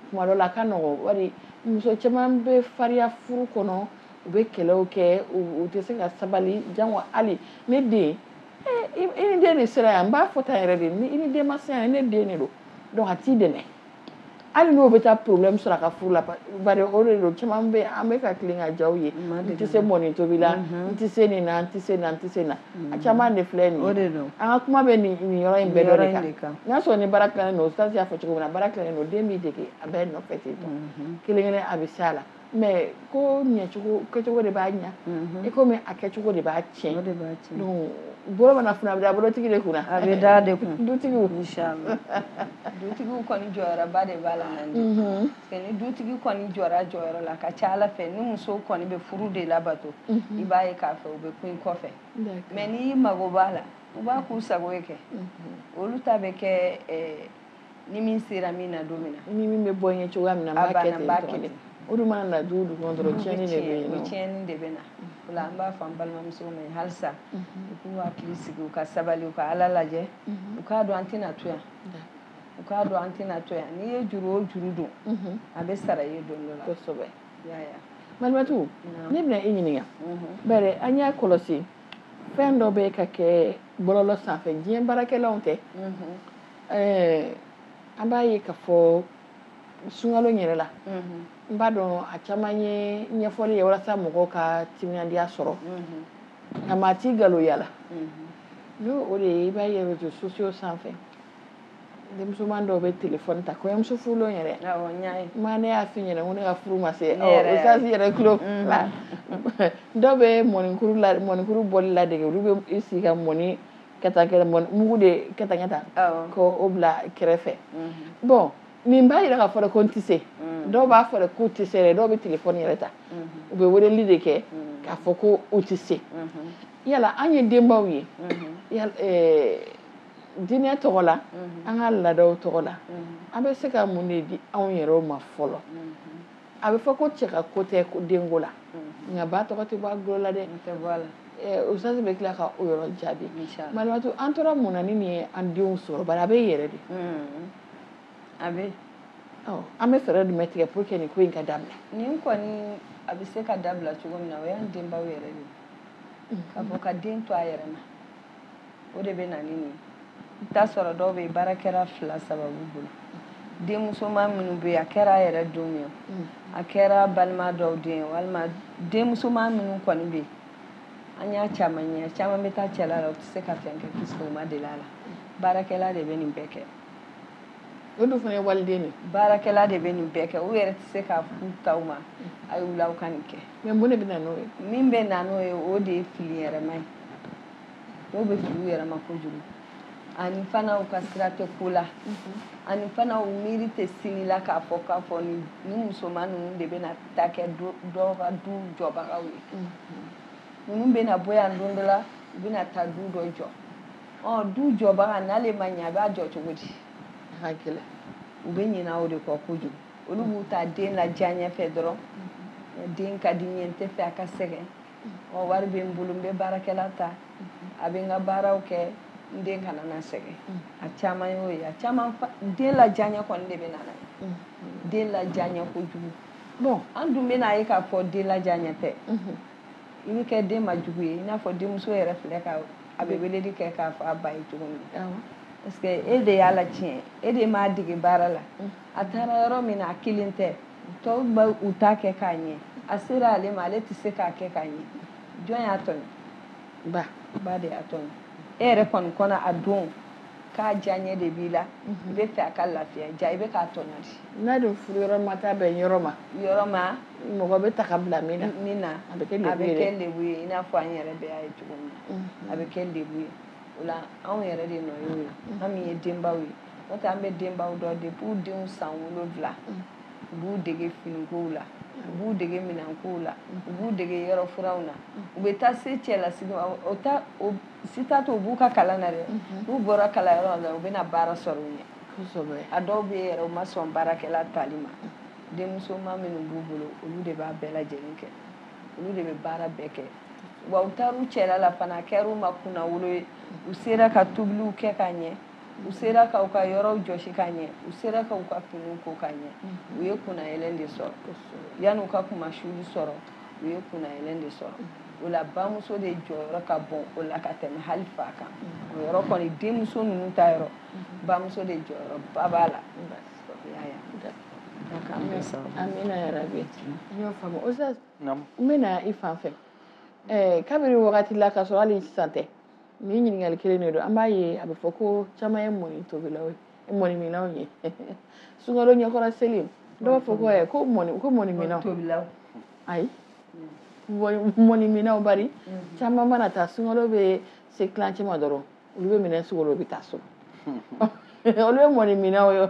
kuma dɔ la ka nɔgɔ bari muso caman bɛ fariya furu kɔnɔ u bɛ kɛlɛw kɛ u tɛ se ka sabali jango hali ne den eh, i ni den de sera yan n b'a fɔ ta yɛrɛ de ni i ni den ma se yan ne den de don donc a t'i dɛmɛ hali n'o bɛ taa problème sɔrɔ a ka furu la bari o de don caman bɛ an bɛ ka tilen ka jaw ye n tɛ se mɔni tobi la n tɛ se nin na n tɛ se na n tɛ se na a mm. caman de filɛ nin ye an ka kuma bɛ nin yɔrɔ in bɛɛ dɔ de kan n'a sɔrɔ ni baara tilalen don sasi y'a fɔ cogo min na baara tilalen don den b'i dege a bɛɛ nɔfɛ ten tɔ mm-hmm. kelen kelenna bɛ s'a la mais ko ɲɛcogo kɛcogo de b'a ɲa mm-hmm. i komi a kɛcogo de b'a tiɲɛ donc bɔrɔ mana funu a bɛ da bɔrɔtigi de kunna a bɛ da de kun dutigiw dutigiw kɔni jɔyɔrɔba de b'a la ni dutigi kɔni jɔr'a jɔyɔrɔ la ka ca ala fɛ ni muso kɔni bɛ furu de labato mhm. i b'a ye k'a fɔ u bɛ kun kɔfɛ mɛ n'i y'i mago b'a la u b'a k'u sago ye kɛ mhm. olu ta bɛ kɛ eh, ni min sera min na don min na ni min bɛ bɔ ɲɛ cogoya min na b'a kɛ ten dɔrɔn o de mana na du dugu kɔnɔ dɔrɔn tiɲɛni de bɛ yen nɔ tiɲɛni de bɛ na o la an b'a fɔ an balimamusow ma halisa mhm. u k'u hakili sigi u ka sabali u ka ala lajɛ u k'a dɔn an tɛna to yan u k'a dɔn an tɛna to yan n'i ye juru o juru don mhm. a bɛ sara i ye don dɔ la kosɛbɛ malimatu ne bɛna i ɲininka mhm. bari an y'a kɔlɔsi fɛn dɔ bɛ ka kɛ bɔlɔlɔ sanfɛ diɲɛ baarakɛlaw tɛ mhm. an b'a ye k'a fɔ sunkalo yɛrɛ la n b'a dɔn a caman ye ɲɛfɔli ye walasa mɔgɔw ka timinandiya sɔrɔ nka maa t'i galon a la n'o o de ye i b'a ye reseaux sociaux sanfɛ denmusoma dɔw bɛ telefɔni ta kɔɲɔmuso furulen yɛrɛ ma ne y'a fi ɲɛna ko ne ka furu ma se osansi yɛrɛ tulo la dɔw bɛ mɔnikuru la mɔnikuru bɔli ladege olu bɛ i sigi ka mɔni kɛta kɛ mugu de kɛta kɛta ko o bila kɛrɛfɛ bon nin b'a yira k'a fɔ ko n tɛ se dɔw b'a fɔ k'u tɛ se yɛrɛ dɔw bɛ telefɔni yɛrɛ ta u bɛ weleli de kɛ k'a fɔ ko u tɛ se yala an ye denbaw ye diinɛ tɔgɔ la an ka laadaw tɔgɔ la an bɛ se ka mun de di anw yɛrɛw ma fɔlɔ a bɛ fɔ ko cɛ ka ko tɛ denko la nka ba tɔgɔ tɛ bɔ a golo la dɛ usitazi bɛ tila ka o yɔrɔ jaabi malimatu an tora mun na ni nin ye an denw sɔrɔ bari a bɛ yɛrɛ de a bɛ an bɛ fɛɛrɛ jumɛn tigɛ pour que nin ko in ka dabila nin kɔni a bɛ se ka dabila cogo min na o y'an denbaw yɛrɛ de ka fɔ ka den to a yɛrɛ ma o de bɛ na ni nin i t'a sɔrɔ dɔw bɛ baarakɛla fila saba b'u bolo denmusoma minnu bɛ a kɛra a yɛrɛ denw ye mm. a kɛra balima dɔw den walima denmusoma minnu kɔni bɛ an y'a caman ye caman bɛ taa cɛla la u tɛ se ka fɛn kɛ puisque u ma deli a la baarakɛla de bɛ nin bɛɛ kɛ o dun fana ye waliden de baarakɛla de bɛ nin bɛɛ kɛ u yɛrɛ tɛ se k'a f'u taw ma a y'u la u ka nin kɛ mais mun de bɛ na n'o ye min bɛ na n'o ye o de ye fili yɛrɛma ye dɔw bɛ fili u yɛrɛma kojugu ani fana u ka sira tɛ ko la ani fana u miiri tɛ sini la k'a fɔ k'a fɔ ni ni musoman ninnu de bɛna taa kɛ dɔw ka du jɔbagaw ye ninnu bɛna bɔ yan don dɔ la u bɛna taa du dɔ jɔ ɔ du jɔbaga n'ale ma ɲɛ a b'a jɔ cogo di a ka gɛlɛn u bɛ ɲinɛ o de kɔ kojugu olu b'u ta den la diyaɲɛ fɛ dɔrɔn den ka di n ye n tɛ fɛ a ka sɛgɛn ɔ wari bɛ n bolo n bɛ baarakɛla ta a bɛ n ka baaraw kɛ n den kana na sɛgɛn a caman y'o ye a caman den la diyaɲɛ kɔni de bɛ na n'a ye den la diyaɲɛ kojugu bɔn an dun bɛna ye k'a fɔ den la diyaɲɛ fɛ i bɛ kɛ den ma jugu ye i n'a fɔ denmuso yɛrɛ filɛ ka a bɛ weleli kɛ k'a fɔ a ba ye cogo min na parce que e de y'a latiɲɛ e de m'a dege baara la a taara yɔrɔ min na a kelen tɛ tɔw bɛ u ta kɛ ka ɲɛ a sera ale ma ale tɛ se k'a kɛ ka ɲɛ jɔn y'a tɔɲɔ ba ba de y'a tɔɲɔ e yɛrɛ kɔni kɔnɔ a don k'a diyaɲɛ de b'i la i bɛ fɛ a ka lafiya ja i bɛ k'a tɔɲɔ de n'a dun furu yɔrɔ ma taa bɛn yɔrɔ ma yɔrɔ ma mɔgɔ bɛ taa ka bila min na min na a bɛ kɛ lebu ye i n'a fɔ an yɛrɛ bɛɛ y'a ye cogo min na a bɛ kɛ lebu ye o la anw yɛrɛ de nɔ y'o ye an min ye denbaw ye n'o tɛ an bi denbaw dɔ de b'u denw san wolonwula mm. u b'u dege finikow la u b'u dege minɛnkow la u b'u dege yɔrɔ furanw na u bɛ taa se cɛlasigi o ta o si t'a to u b'u ka kalan na dɛ mm-hmm. n'u bɔra kalanyɔrɔ la u bɛna baara sɔrɔ u ɲɛ kosɛbɛ a dɔw bɛ yɛrɛ u ma sɔn baarakɛla tali ma denmusoman minnu b'u bolo olu de b'a bɛɛ lajɛlen kɛ olu de bɛ baara bɛɛ kɛ wa u taar'u cɛla la fana a kɛr'u ma kunnawolo ye u sera ka tobiliw kɛ ka ɲɛ u sera k'u ka yɔrɔw jɔsi ka ɲɛ u sera k'u ka finiw ko ka ɲɛ mhm. u ye kunnayɛlɛn de sɔrɔ yanni u ka kunmasuuli sɔrɔ u ye kunnayɛlɛn de sɔrɔ mhm. o la bamuso de jɔyɔrɔ ka bɔn o la ka tɛmɛ hali fa kan mhm. o yɔrɔ kɔni denmuso ninnu ta yɔrɔ bamuso de jɔyɔrɔba b'a la amina yarabi n y'o faamu o n bɛna i fan fɛ kabiri wagati la k'a sɔrɔ hali sisan tɛ nin ɲininkali kelen de don an b'a ye a bɛ fɔ ko caman ye mɔni tobilaw ye mɔniminnaw ye sunkalo ɲɛkɔrɔ seli dɔw b'a fɔ ko ɛ ko mɔni ko mɔniminnaw tobilaw ayi mɔniminnaw bari mm-hmm. caman mana taa sunkalo bɛ se tilancɛ ma dɔrɔn olu bɛ minɛn sugolo bɛ taa so olu ye mɔniminnaw ye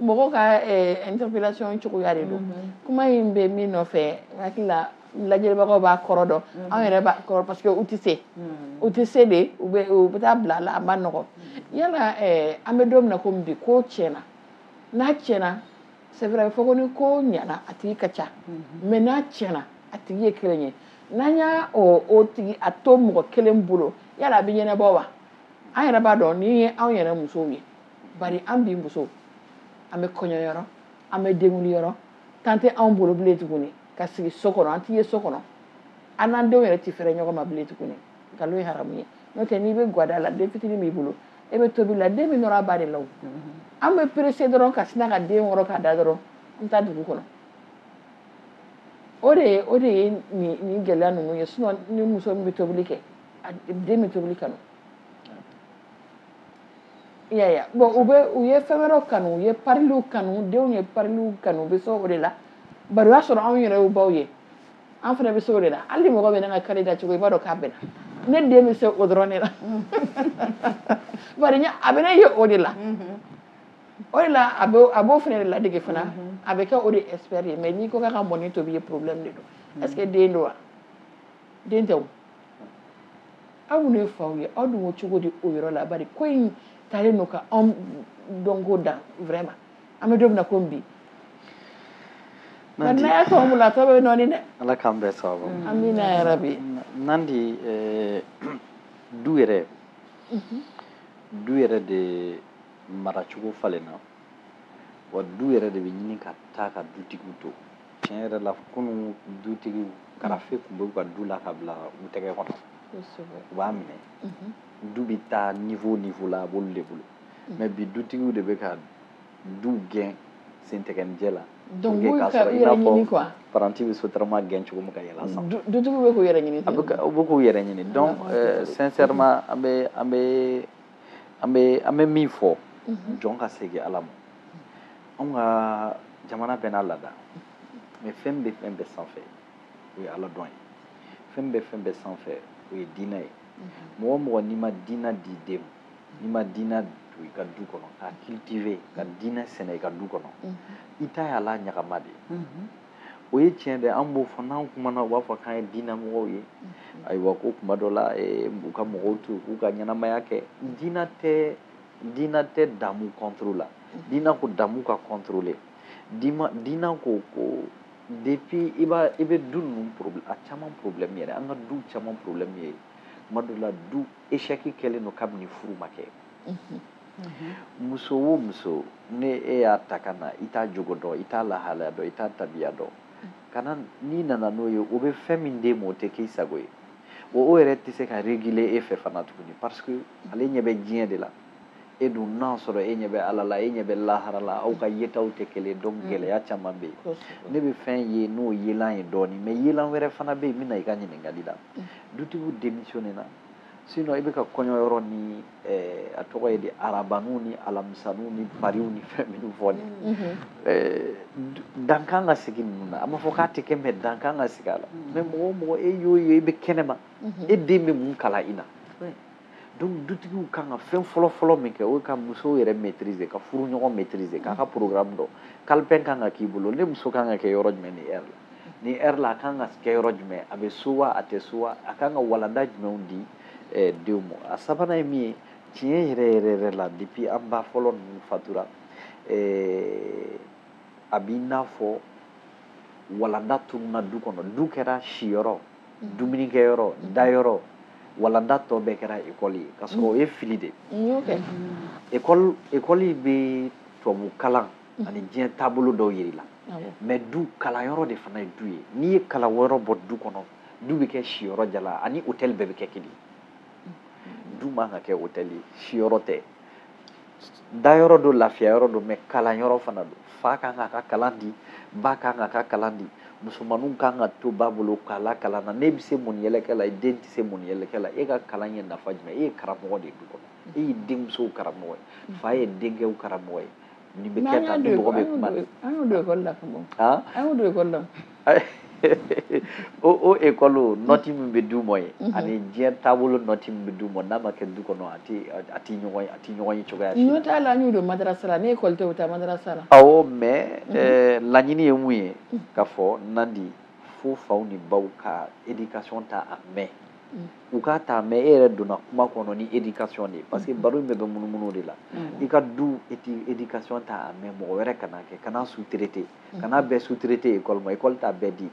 mɔgɔw ka interpellation cogoya de don kuma in bɛ min nɔfɛ hakili la lajɛbagaw b'a kɔrɔ dɔn mm. anw yɛrɛ b'a kɔrɔ parce que u tɛ se mm. u tɛ se de u bɛ u bɛ taa bila a la a man nɔgɔn mm. yala eh, an bɛ don min na komi bi ko tiɲɛna n'a tiɲɛna c'est vrai fɔ ko ni ko ɲɛna a tigi ka ca mm-hmm. mais n'a tiɲɛna a tigi ye kelen ye n'an y'a o o tigi a to mɔgɔ kelen bolo yala a bɛ ɲɛnabɔ wa an yɛrɛ b'a dɔn nin ye anw yɛrɛ musow ye bari an bi musow an bɛ kɔɲɔ yɔrɔ an bɛ denkundi yɔrɔ temps tɛ anw bolo bilen tuguni ka sigi so kɔnɔ an ti ye so kɔnɔ an n'an denw yɛrɛ ti fɛrɛ ɲɔgɔn ma bilen tuguni nkalon ye haramu ye n'o tɛ n'i bɛ gwada la den fitinin b'i bolo e bɛ tobili la den bɛ nɔrɔ a ba de la o an bɛ perese dɔrɔn ka sina ka den wɔrɔ k'a da dɔrɔn an bɛ taa dugu kɔnɔ o de ye o de ye nin nin gɛlɛya ninnu ye sinon ni muso min bɛ tobili kɛ a den bɛ tobili kanu Ya bɔn u bɛ u ye fɛn wɛrɛ kanu u ye pariw kanu denw ye pariw kanu u bɛ se o de la bari u y'a sɔrɔ anw yɛrɛ u baw ye an fana bɛ se o de la hali mɔgɔ bɛ ka kari da cogo i b'a dɔn k'a bɛn ne den bɛ se o dɔrɔn ne la a bɛ ne ye o de la o de la a b'o fana de ladege fana a bɛ kɛ o de esprit de ye mais n'i ko ka mɔni tobi ye problème de don est-ce que den don wa den tɛ aw minnu ye faw ye aw dun ko cogo di o yɔrɔ la bari ko in taalen don ka anw dɔnko dan vraiment an bɛ don min na komi bi nandi ya tɔn bolo a tɔ bɛ nɔɔni dɛ ala k'an bɛɛ sababu mm. amina yarabi nandi eh, du yɛrɛ mhm. du yɛrɛ de maracogo falenna wa du yɛrɛ de bɛ ɲini ka taa ka dutigiw to tiɲɛ yɛrɛ la kunun dutigiw karafe tun bɛ u ka du la ka bila u tɛgɛ kɔnɔ u b'a minɛ du bɛ taa niveau niveau la a b'olu de bolo mais bi dutigiw de bɛ ka du gɛn sentɛgɛnijɛ la donc n'u ka u yɛrɛ ɲini quoi paranti bɛ sotarama gɛn cogo min ka yɛlɛ san dutigiw bɛ k'u yɛrɛ ɲini u bɛ k'u yɛrɛ ɲini donc sincèrement an bɛ an bɛ an bɛ an bɛ min fɔ jɔn ka segin ala ma anw ka jamana bɛɛ n'a laada mais fɛn bɛ fɛn bɛɛ sanfɛ o ye ala dɔn ye fɛn bɛ fɛn bɛɛ sanfɛ o ye diina ye mɔgɔ o mɔgɔ n'i ma diina di den ma n'i ma diina don i ka du kɔnɔ ka cultiver ka diina sɛnɛ i ka du kɔnɔ i ta y'ala ɲagama de ye o ye tiɲɛ dɛ an b'o fɔ n'an kumana u b'a fɔ k'an ye diinamɔgɔw ye ayiwa ko kuma dɔ la eh, u ka mɔgɔw to k'u ka ɲɛnamaya kɛ diina tɛ diina tɛ damu contre la diina ko damu ka contrôler diina ko ko depuis i b'a i bɛ du ninnu problème a caman problème yɛrɛ an ka du caman problème ye kuma dɔ la du échec kɛlen don kabini furu ma kɛ muso o muso ni e y'a ta ka na i t'a jogo dɔn i t'a lahalaya dɔn i t'a tabiya dɔn ka na n'i nana n'o ye o bɛ fɛn min d'e ma o tɛ k'i sago ye o o yɛrɛ tɛ se ka réguler e fɛ fana tuguni parce que ale ɲɛ bɛ diɲɛ de la e dun n'a sɔrɔ e ɲɛ bɛ ala la e ɲɛ bɛ lahara la aw ka yetaw tɛ kelen donc mm. gɛlɛya caman bɛ yen ne bɛ fɛn ye n'o yelan ye dɔɔnin mais yelan wɛrɛ fana bɛ yen n bɛna i ka ɲininkali la mm. dutigiw démissionné na sinon i bɛ ka kɔɲɔ yɔrɔ ni a tɔgɔ ye di arabaninw ni alamisaninw ni pariw ni fɛn minnu fo dan kan ka sigi ninnu na a ma fɔ k'a tɛ kɛ mɛ dan kan ka sigi a la mɛ mɔgɔ mɔgɔ e y'o ye i bɛ kɛnɛma e den bɛ mun kalan i na donc dutigiw kan ka fɛn fɔlɔ fɔlɔ min kɛ o ka muso yɛrɛ maîtriser k'a furuɲɔgɔn maîtriser k'a ka programme dɔn calepin kan ka k'i bolo ne muso kan ka kɛ yɔrɔ jumɛn ni heure la ni heure la a kan ka kɛ yɔrɔ jumɛn a bɛ so wa a tɛ so wa a kan ka walanda jumɛnw di eh, denw ma a sabanan ye min ye tiɲɛ yɛrɛ yɛrɛ yɛrɛ la depuis an ba fɔlɔ ninnu fatura eh, a b'i n'a fɔ walanda tununna du kɔnɔ du kɛra siyɔrɔ mm-hmm. dumunikɛyɔrɔ mm-hmm. dayɔrɔ walanda tɔ bɛɛ kɛra ekɔli ye ka sɔrɔ o ye fili de ye ekɔli bɛ tubabu kalan ani diɲɛ taabolo dɔw yir'i la mɛ du kalanyɔrɔ de fana ye du ye n'i ye kalanyɔrɔ bɔ du kɔnɔ du bɛ kɛ siyɔrɔ jalan ani hotɛli bɛɛ bɛ kɛ kelen du man ka kɛ hotɛli ye siyɔrɔ tɛ dayɔrɔ don lafiyayɔrɔ don mɛ kalanyɔrɔ fana don fa kan k'a ka kalan di ba kan k'a ka kalan di musomaninw kan ka to ba bolo k'a la kalan na n'e bɛ se mɔniyɛlɛkɛ la i den tɛ se mɔniyɛlɛkɛ la e ka kalan ye nafa jumɛn e ye karamɔgɔ de ye du kɔnɔ e y'i denmusow karamɔgɔ ye mm. fa ye denkɛw karamɔgɔ ye nin bɛ kɛ tan ni mɔgɔ bɛ kuma na an y'o don ekɔli la ka bɔ an y'o don ekɔli la o o ekɔli nɔti min bɛ d'u ma ye mm-hmm. ani diɲɛ taabolo nɔti min bɛ d'u ma n'a ma kɛ du kɔnɔ a ti a ti ɲɔgɔn ye a ti ɲɔgɔn ye cogoya si la. n'o t'a la an y'o don madarasa la ne ekɔli tɛ o taa madarasa la. awɔ mɛ mm-hmm. eh, laɲini ye mun ye mm. k'a fɔ nandi fo faw ni baw ka éducation ta en main. Mm. u k'a ta en main e yɛrɛ donna kuma kɔnɔ ni éducation de ye parce que baro in bɛɛ bɛ munumunu de la i ka du éducation ta en main mɔgɔ wɛrɛ kana kɛ kan'a sous-traiter kan'a bɛɛ sous-traiter école ma école t'a bɛɛ di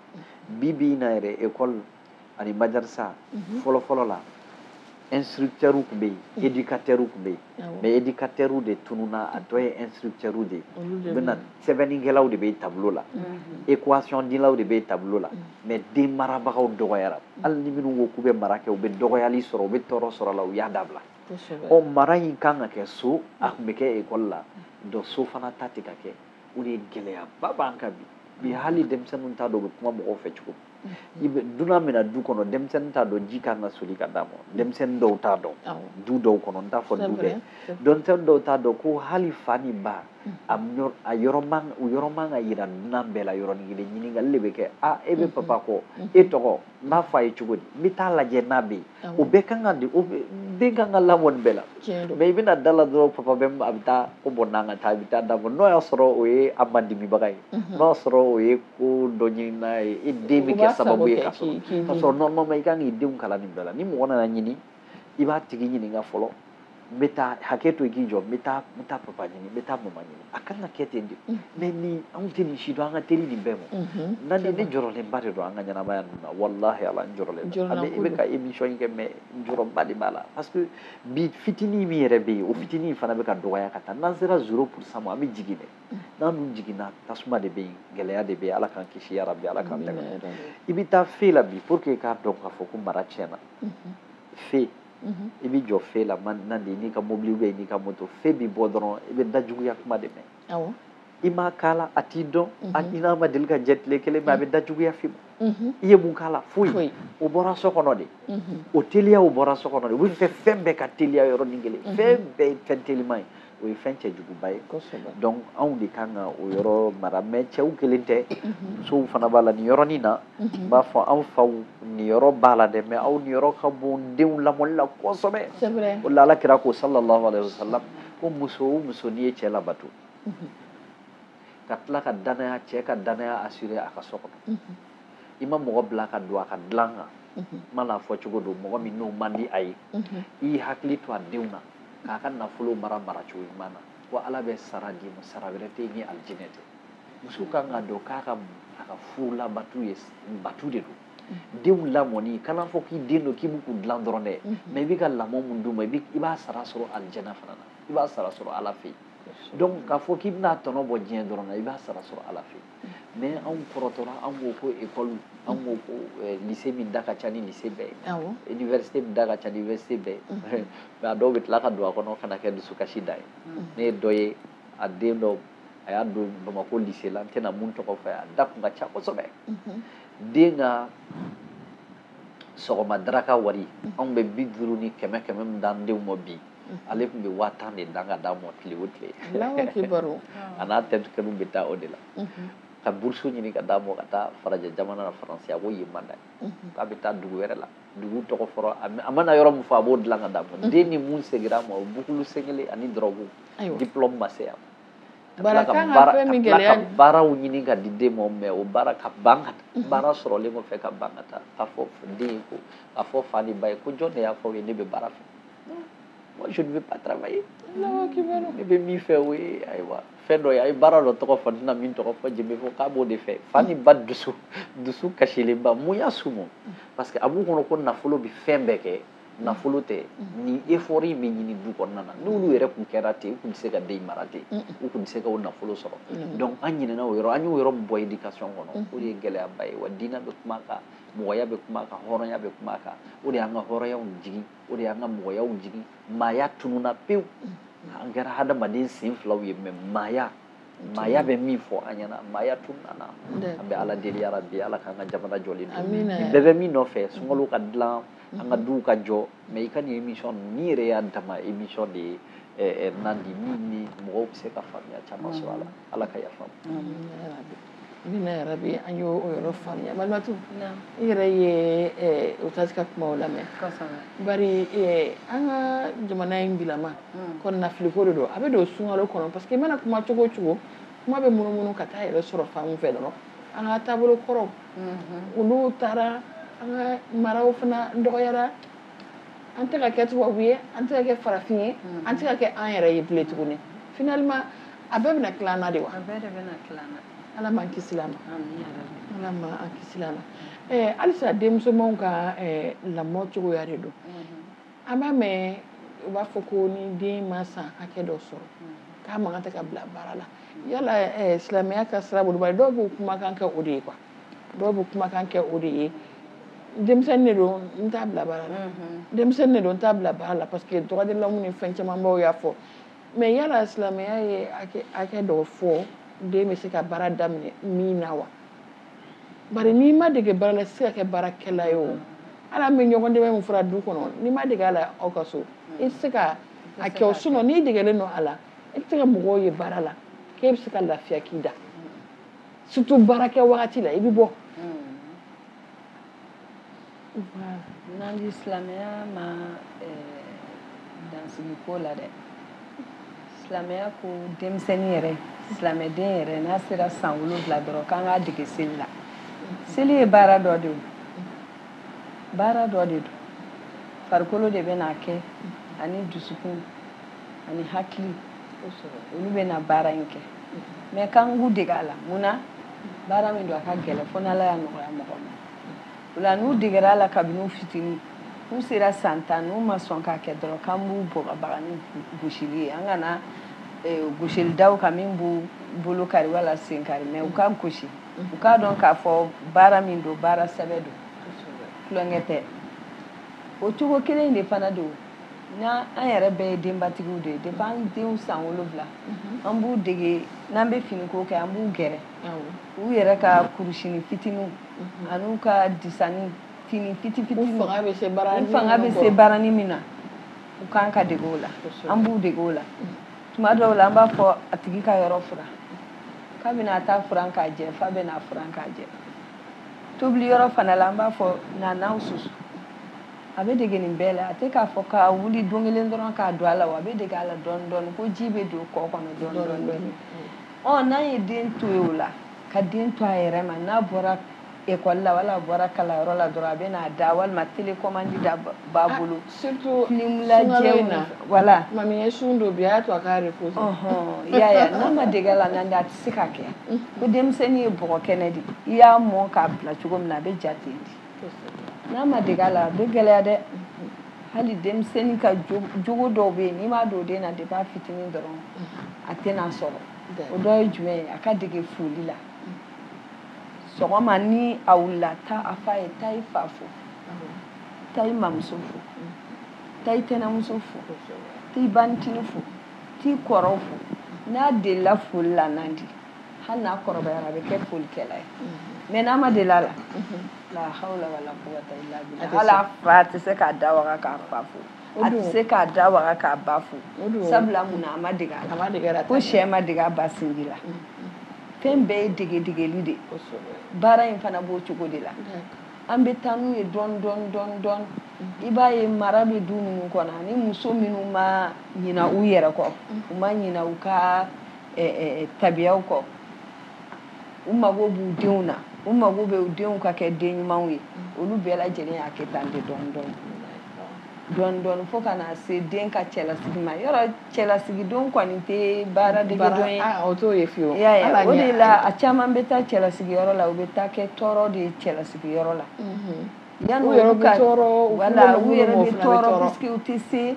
bi bi in na yɛrɛ école ani madarasa fɔlɔ fɔlɔ la instructeurs tun bɛ yen éducateurs tun bɛ yen mɛ éducateurw de tununna a tɔ ye instructeurw de ye bɛna sɛbɛnnikɛlaw de bɛ tableau la équation dilaw de bɛ tableau la mɛ den marabagaw dɔgɔyara hali ni minnu ko k'u bɛ mara kɛ u bɛ dɔgɔyali sɔrɔ u bɛ tɔɔrɔ sɔrɔ a la u y'a dabila o mara in kan ka kɛ so a tun bɛ kɛ ekɔli la dɔ so fana ta tɛ ka kɛ o de gɛlɛyaba b'an kan bi bi hali denmisɛnninw t'a dɔn u bɛ kuma mɔgɔw fɛ cogo min dunan bɛ na du kɔnɔ denmisɛnnin t'a dɔn ji kan ka soli ka d'a ma denmisɛnnin dɔw t'a dɔn du dɔw kɔnɔ n t'a fɔ du bɛɛ denmisɛnnin dɔw t'a dɔn ko hali fa ni ba a yɔrɔ man u yɔrɔ man ka yira dunan bɛɛ la yɔrɔnin kelen ɲininkali de bɛ kɛ a e bɛ papa kɔ e tɔgɔ n b'a fɔ a ye cogo di n bɛ taa lajɛ n'a bɛ yen o bɛɛ kan ka di o den kan ka lamɔ nin bɛɛ la mɛ i bɛ na da la dɔrɔn papa bɛ a bɛ taa ko bon n'an ka taa a bɛ taa da bɔ n'o y'a sɔrɔ o ye a madimibaga ye mhm. n'o y'a sɔrɔ o ye ko dɔ ɲinina ye i den bɛ kɛ sababu ye ka sɔrɔ ka sɔrɔ normalement i kan k'i denw kalan nin bɛɛ la ni mɔgɔ nana ɲini i b'a tigi ɲininka fɔlɔ n bɛ taa hakɛ to i k'i jɔ n bɛ taa n bɛ taa papa ɲini n bɛ taa mama ɲini a kan ka kɛ ten de mɛ ni anw tɛ nin si dɔn an ka teli nin bɛɛ ma nani ne jɔrɔlenba de don an ka ɲɛnamaya ninnu na walahi ala n jɔrɔlen don an bɛ i bɛ ka émission in kɛ mɛ n jɔrɔba de b'a la parce que bi fitinin min yɛrɛ bɛ yen o fitinin fana bɛ ka dɔgɔya ka taa n'an sera zero pourcent ma an bɛ jigin dɛ n'an dun jiginna tasuma de bɛ yen gɛlɛya de bɛ yen ala k'an kisi yarabi ala k'an dɛmɛ i bɛ taa fe la bi pour que k'a dɔn k'a fɔ ko mara tiɲɛna fe mhm. i bɛ jɔ fe la nan de n'i ka mobili bɛ n'i ka moto fe bɛ bɔ dɔrɔn i bɛ dajuguya kuma de mɛn i m'a k'a la a t'i dɔn a mhm. i n'a ma deli ka jɛ tile kelen mɛ a bɛ dajuguya f'i ma mhm. i ye mun k'a la foyi o bɔra so kɔnɔ de o teliya o bɔra so kɔnɔ de u bɛ fɛ fɛn bɛɛ ka teliya yɔrɔnin kelen fɛn bɛɛ ye fɛn teliman ye o ye fɛn cɛjuguba ye donc anw de kan ka o yɔrɔ mara mɛ cɛw kelen tɛ musow fana b'a la nin yɔrɔnin na n b'a fɔ anw faw niyɔrɔ b'a la dɛ mɛ aw niyɔrɔ ka bon denw lamɔli la kosɛbɛ o la ala kira ko sallallahu alayhi wasallam ko muso o muso n'i ye cɛ labato ka tila ka dannaya cɛ ka dannaya assurer a ka so kɔnɔ i ma mɔgɔ bila ka don a ka dilan kan maana fɔcogo don mɔgɔ min n'o man di a ye i hakili to a denw na k'a ka nafolo mara maracogo ɲuman na ko ala bɛ sara d'i ma sara wɛrɛ tɛ ni alijinɛ tɛ muso kan k'a dɔn k'a ka a ka furu labatu ye batu de don denw lamɔni kan'a fɔ k'i den don k'i b'u ko dilan dɔrɔn dɛ mɛ i bɛ ka lamɔ min d'u ma i b'a sara sɔrɔ alijana fana na i b'a sara sɔrɔ ala fɛ yen donc k'a fɔ k'i bɛna tɔnɔ bɔ diɲɛ dɔrɔn na i b'a sara sɔrɔ ala fɛ yen mɛ anw kɔrɔtɔla anw ko ekɔli anw ko lise min da ka ca ni lise bɛɛ ye université min da ka ca ni université bɛɛ ye mɛ a dɔw bɛ tila ka don a kɔnɔ ka na kɛ dusukasi da ye ne ye dɔ ye a den dɔ a y'a don bamakɔ lise la n tɛna mun tɔgɔ fɔ a da tun ka ca kosɛbɛ den ka sɔgɔma daraka wari anw bɛ bi duuru ni kɛmɛ kɛmɛ min d'an denw ma bi ale tun bɛ waa tan de dan ka d'a ma tile o tile a n'a terikɛw bɛ taa o de la ka burusu ɲini ka d'a ma ka taa farajɛ jamana na faransi a ko yen man d'a ye k'a bɛ taa dugu wɛrɛ la dugu tɔgɔ fɔra a mana yɔrɔ min fɔ a b'o dilan ka d'a ma den ni mun segira a ma o bukulu sen kelen ani dɔrɔgu dipulɔmu ma se yan baara kan ka fɛn min gɛlɛya ka baaraw ɲini ka di den ma mɛ o baara ka ban ka taa baara sɔrɔlen kɔfɛ ka ban ka taa k'a fɔ den ye ko k'a fɔ fa ni ba ye ko jɔn de y'a fɔ aw ye ne bɛ baara fɛ je ne veux pas travailler ne bɛ min fɛ o ye ayiwa fɛn dɔ ye a ye baara dɔ tɔgɔ fɔ n tɛna min tɔgɔ fɔ jɛnbe fɔ k'a b'o de fɛ fa ni ba dusu dusu kasilenba mun y'a sumu parce que a b'u kɔnɔ ko nafolo bɛ fɛn bɛɛ kɛ nafolo tɛ nin effort in bɛ ɲini du kɔnɔna na n'olu yɛrɛ tun kɛra ten u tun tɛ se ka den mara ten u tun tɛ se ka o nafolo sɔrɔ donc an ɲinɛna o yɔrɔ an y'o yɔrɔ min bɔ éducation kɔnɔ o de ye gɛlɛyaba ye wa diinɛ bɛ kuma a kan mɔgɔya bɛ kuma a kan hɔrɔnya bɛ kuma a kan o de y'an ka hɔrɔnyaw jigin o de y'an ka mɔgɔyaw jigin maaya tununa pewu an kɛra hadamaden sen filaw ye mais maaya maaya bɛ min fɔ an ɲɛna maaya tununna an bɛ ala deli yarabi ala k'an ka jamana jɔlen don nin bɛɛ bɛ min nɔfɛ sunkalo ka dilan an ka mm-hmm. duw ka jɔ mais i ka nin émission ninnu n'i yɛrɛ y'a dama émission de ye eh, eh, nandi min ni mɔgɔw bɛ se ka faamuya caman sɔrɔ a la mm-hmm. ala ka yafa ma Amiina yarabi an y' o yɔrɔ faamuya malimatu i yɛrɛ ye usitazi ka kuma lamɛn bari an ka jamana in bilama kɔnɔnafiliko de don a bɛ don sunkalo kɔnɔ parce que i mana kuma cogo cogo kuma bɛ munumunu ka taa yɛrɛ sɔrɔ fan fɛ dɔrɔn an ka taabolo kɔrɔ olu taara an ka maraw fana dɔgɔyara an tɛ ka kɛ tubabu ye an tɛ ka kɛ farafin ye mm-hmm. an tɛ ka kɛ an yɛrɛ ye bilen tuguni finalement a bɛɛ bɛna tila an na de wa a bɛɛ de bɛna tila an na ala m'an kisila a ma ala m'an kisila a ma eh, halisa denmusomanw ka eh, lamɔ cogoya de don mm-hmm. an b'a mɛn u b'a fɔ ko ni den ma san hakɛ dɔ sɔrɔ mm-hmm. k'a man kan de ka bila baara la yala eh, silamɛya ka sira bolo bari dɔw b'o kumakan kɛ o de ye quoi dɔw bɛ kumakan kɛ o de ye denmisɛnnin de don n t'a bila baara la denmisɛnnin de don n t'a bila baara la parce que droit de l'homme ni fɛn camanbaw y'a fɔ mais yala silamɛya ye hakɛ dɔw fɔ den bɛ se ka baara daminɛ min na wa bari n'i ma dege baara la se ka kɛ baarakɛla ye o hali an bɛ ɲɔgɔn dɛmɛ min fɔra du kɔnɔ n'i ma dege a la aw ka so i tɛ se ka a kɛ o sinon n'i degelen don a la i tɛ se ka mɔgɔw ye baara la k'e bɛ se ka lafiya k'i da surtout baara kɛ wagati la i bɛ bɔ n'an di silamɛya ma dan sigi ko la dɛ silamɛya ko denmisɛnnin yɛrɛ silamɛden yɛrɛ n'a sera san wolonfila dɔrɔn k'an k'a dege seli la seli ye baara dɔ de don baara dɔ de don farikolo de bɛna a kɛ ani dusukun ani hakili olu bɛna baara in kɛ mais k'an k'u dege a la mun na baara min don a ka gɛlɛn fo n'ala y'a nɔgɔya mɔgɔ ma o la n'u degera a la kabini u fitini n'u sera san tan n'u ma sɔn k'a kɛ dɔrɔn k'an b'u bagabaga ni gosili ye an kana eh, gosili da u kan min b'u bolo kari wala sen kari mais u ka gosi u k'a dɔn k'a fɔ baara min don baara sɛbɛ don tulonkɛ tɛ o cogo kelen de fana don n'an an yɛrɛ bɛɛ ye denbatigiw de ye depuis an denw san wolonwula mhm. an b'u dege n'an bɛ finiko kɛ an b'u gɛrɛ u yɛrɛ ka kurusini fitiniw mhm. an'u ka disani fini fiti fitini fanga bɛ se baarani min na u kan ka dege o la an b'u dege o la mhm. tuma dɔw la an b'a fɔ a tigi ka yɔrɔ furan kabin'a t'a furan k'a jɛ f'a bɛna a furan k'a jɛ tobili yɔrɔ fana la an b'a fɔ na naw susu a bɛ dege nin bɛɛ la a tɛ k'a fɔ k'a wuli don kelen dɔrɔn k'a don a la wa a bɛ dege a la dɔɔni dɔɔni ko ji bɛ don kɔ kɔnɔ dɔɔni dɔɔni dɔɔni ɔ n'a ye den to yen o la ka den to a yɛrɛ ma n'a bɔra ekɔli la wala a bɔra kalanyɔrɔ la dɔrɔn a bɛ n'a da walima telekɔmandi de b'a ah, bolo surtout filimulajɛw na wala mami ye sun don bi a y'a to a k'a repose ɔhɔn y'a ye n'a ma dege a la nandi a tɛ se ka kɛ ko denmisɛnnin ye bɔgɔ kɛnɛ de i y'a mɔn k'a bila cogo min na a bɛ ja ten de N'a ma dege a la a bɛ gɛlɛya dɛ hali denmisɛnnin ka jogo dɔw bɛ yen n'i m'a don den na depuis a fitinin dɔrɔn a tɛn'a sɔrɔ o dɔ ye jumɛn ye a ka dege foli la sɔgɔma ni a wulila taa a f'a ye taa i fa fo taa i mamuso fo taa i tɛnɛmuso fo taa i bantinin fo t'i kɔrɔw fo n'a delila foli la nandi hali n'a kɔrɔbayara a bɛ kɛ folikɛla ye mm-hmm. mɛ n'a ma deli a la mm-hmm. la hawla wala quwwata illa billah hali a fa tɛ se k'a da waga k'a fa fo a tɛ se k'a da waga k'a ba fo sabula mun na a ma dege a la ko sɛ ma dege a ba sinji la mm-hmm. fɛn bɛɛ ye degedegeli de baara in fana b'o cogo de la an bɛ taa n'u ye dɔɔni dɔɔni dɔɔni dɔɔni i b'a ye mara bɛ du minnu kɔnɔ ani muso minnu ma ɲina u yɛrɛ kɔ u ma ɲina u ka tabiyaw kɔ u mago b'u denw na u mago bɛ u denw ka kɛ den ɲumanw ye olu bɛɛ lajɛlen y'a kɛ tan de dɔɔni dɔɔni dɔɔni dɔɔni fo ka na se den ka cɛlasigi ma yɔrɔ cɛlasigidon kɔni tɛ baaradegedon ye ah, o t'o ye fiyewu o de la a caman bɛ taa cɛlasigiyɔrɔ la u bɛ taa kɛ tɔɔrɔ de ye cɛlasigiyɔrɔ la mhm. yan u yɛrɛ ka tɔɔrɔ wala u yɛrɛ bɛ tɔɔrɔ puisque u tɛ se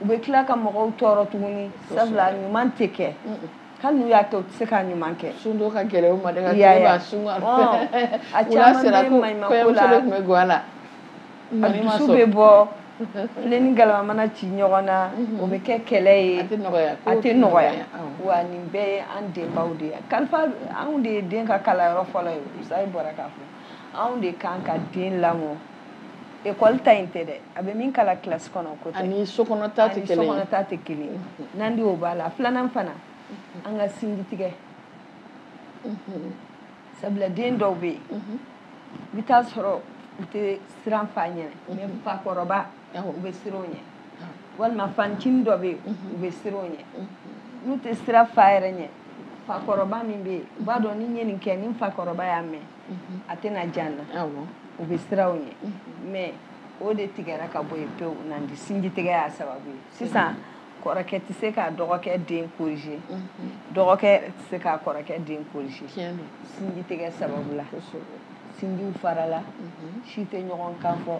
u bɛ tila ka mɔgɔw tɔɔrɔ tuguni sabula ɲuman tɛ kɛ hali n'u y'a kɛ u tɛ se ka ɲuman kɛ sundon ka gɛlɛn u ma deli ka tile b'a sun a caman bɛ maɲumako la tun bɛ guwa la a dusu bɛ bɔ filen ni galama mana ci ɲɔgɔn na o bɛ kɛ kɛlɛ ye a tɛ nɔgɔya wa nin bɛɛ ye an denbaw de ye kalifa anw de ye den ka kalanyɔrɔ fɔlɔ ye usayi bɔra k'a fɔ anw de kan ka den lamɔ ekɔli ta in tɛ dɛ a bɛ min kalan kilasi kɔnɔ k'o ta ani sokɔnɔ ta tɛ kelen ye sokɔnɔ ta tɛ kelen ye mm-hmm. nandi o b'a la filanan fana mm-hmm. an kana sinji tigɛ mm-hmm. sabula den dɔw bɛ yen i bɛ taa sɔrɔ u tɛ siran fa ɲɛ mɛ fakɔrɔba u bɛ siran o ɲɛ walima fa ncinin dɔ bɛ yen u bɛ siran o ɲɛ n'u tɛ siran fa yɛrɛ ɲɛ fakɔrɔba min bɛ yen u b'a dɔn ni n ye nin kɛ ni fakɔrɔba y'a mɛn a tɛna diya n na u bɛ siran o ɲɛ mɛ o de tigɛra ka bɔ yen pewu nin de sinji tigɛ y'a sababu ye sisan kɔrɔkɛ tɛ se ka dɔgɔkɛ den corriger dɔgɔkɛ tɛ se ka kɔrɔkɛ den corriger sinji tigɛ sababu la sinjiw farala si tɛ ɲɔgɔn kan fɔ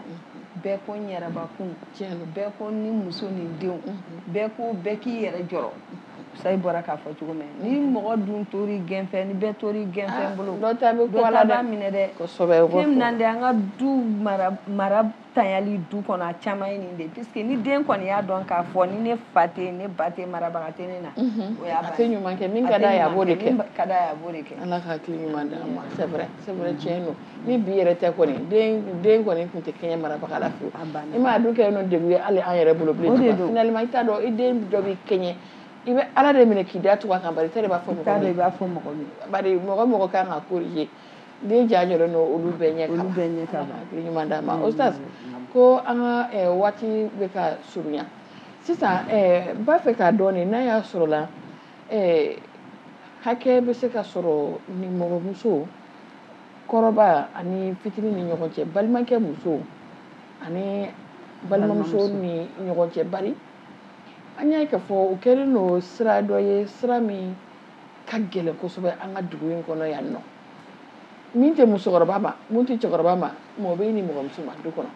bɛɛ ko n yɛrɛbakun bɛɛ ko ni muso ni denw bɛɛ ko bɛɛ k'i yɛrɛ jɔrɔ sayi bɔra k'a fɔ cogo min ni mɔgɔ dun tori gɛnfɛn ni bɛɛ tori gɛnfɛn ah, bolo dɔ ta bɛ minɛ dɛ fɛn minan de an ka du mara tiɲali du kɔnɔ a caman ye nin de puisque ni den kɔni y'a dɔn k'a fɔ ni ne fa tɛ ne ba tɛ marabaga tɛ ne na o y'a a tɛ ɲuman kɛ min ka d'a ye a b'o de kɛ min ka d'a ye a b'o de kɛ ala ka hakili ɲuman d'a ma c'est vrai c'est vrai tiɲɛ don ni bi yɛrɛ tɛ kɔni den den kɔni tun tɛ kɛɲɛ marabaga la fiyewu i m'a dun kɛ nɔ degun ye hali an yɛrɛ bolo bilen finalement i t'a dɔn i den dɔ b'i kɛɲɛ i bɛ ala de minɛ k'i da tugu a kan bari i t'a dɔn i b'a fɔ mɔgɔ min ye bari mɔgɔ mɔgɔ kan ka corriger den ja jɔlen don olu bɛɛ ɲɛ olu bɛɛ ɲɛ kama hakili ɲuman d'a ma ustaz ko an ka eh, waati bɛ ka surunya sisan eh, n b'a fɛ k'a dɔn de n'a y'a sɔrɔ la eh, hakɛ bɛ se ka sɔrɔ nimɔgɔmuso kɔrɔba ani fitini ni ɲɔgɔn cɛ balimakɛ muso ani balimamuso ni ɲɔgɔn cɛ bari an y'a ye k'a fɔ o kɛlen don sira dɔ ye sira min ka gɛlɛn kosɛbɛ an ka dugu in kɔnɔ yan nɔ min tɛ musokɔrɔba ma min tɛ cɛkɔrɔba ma mɔgɔ bɛ i nimɔgɔmuso ma du kɔnɔ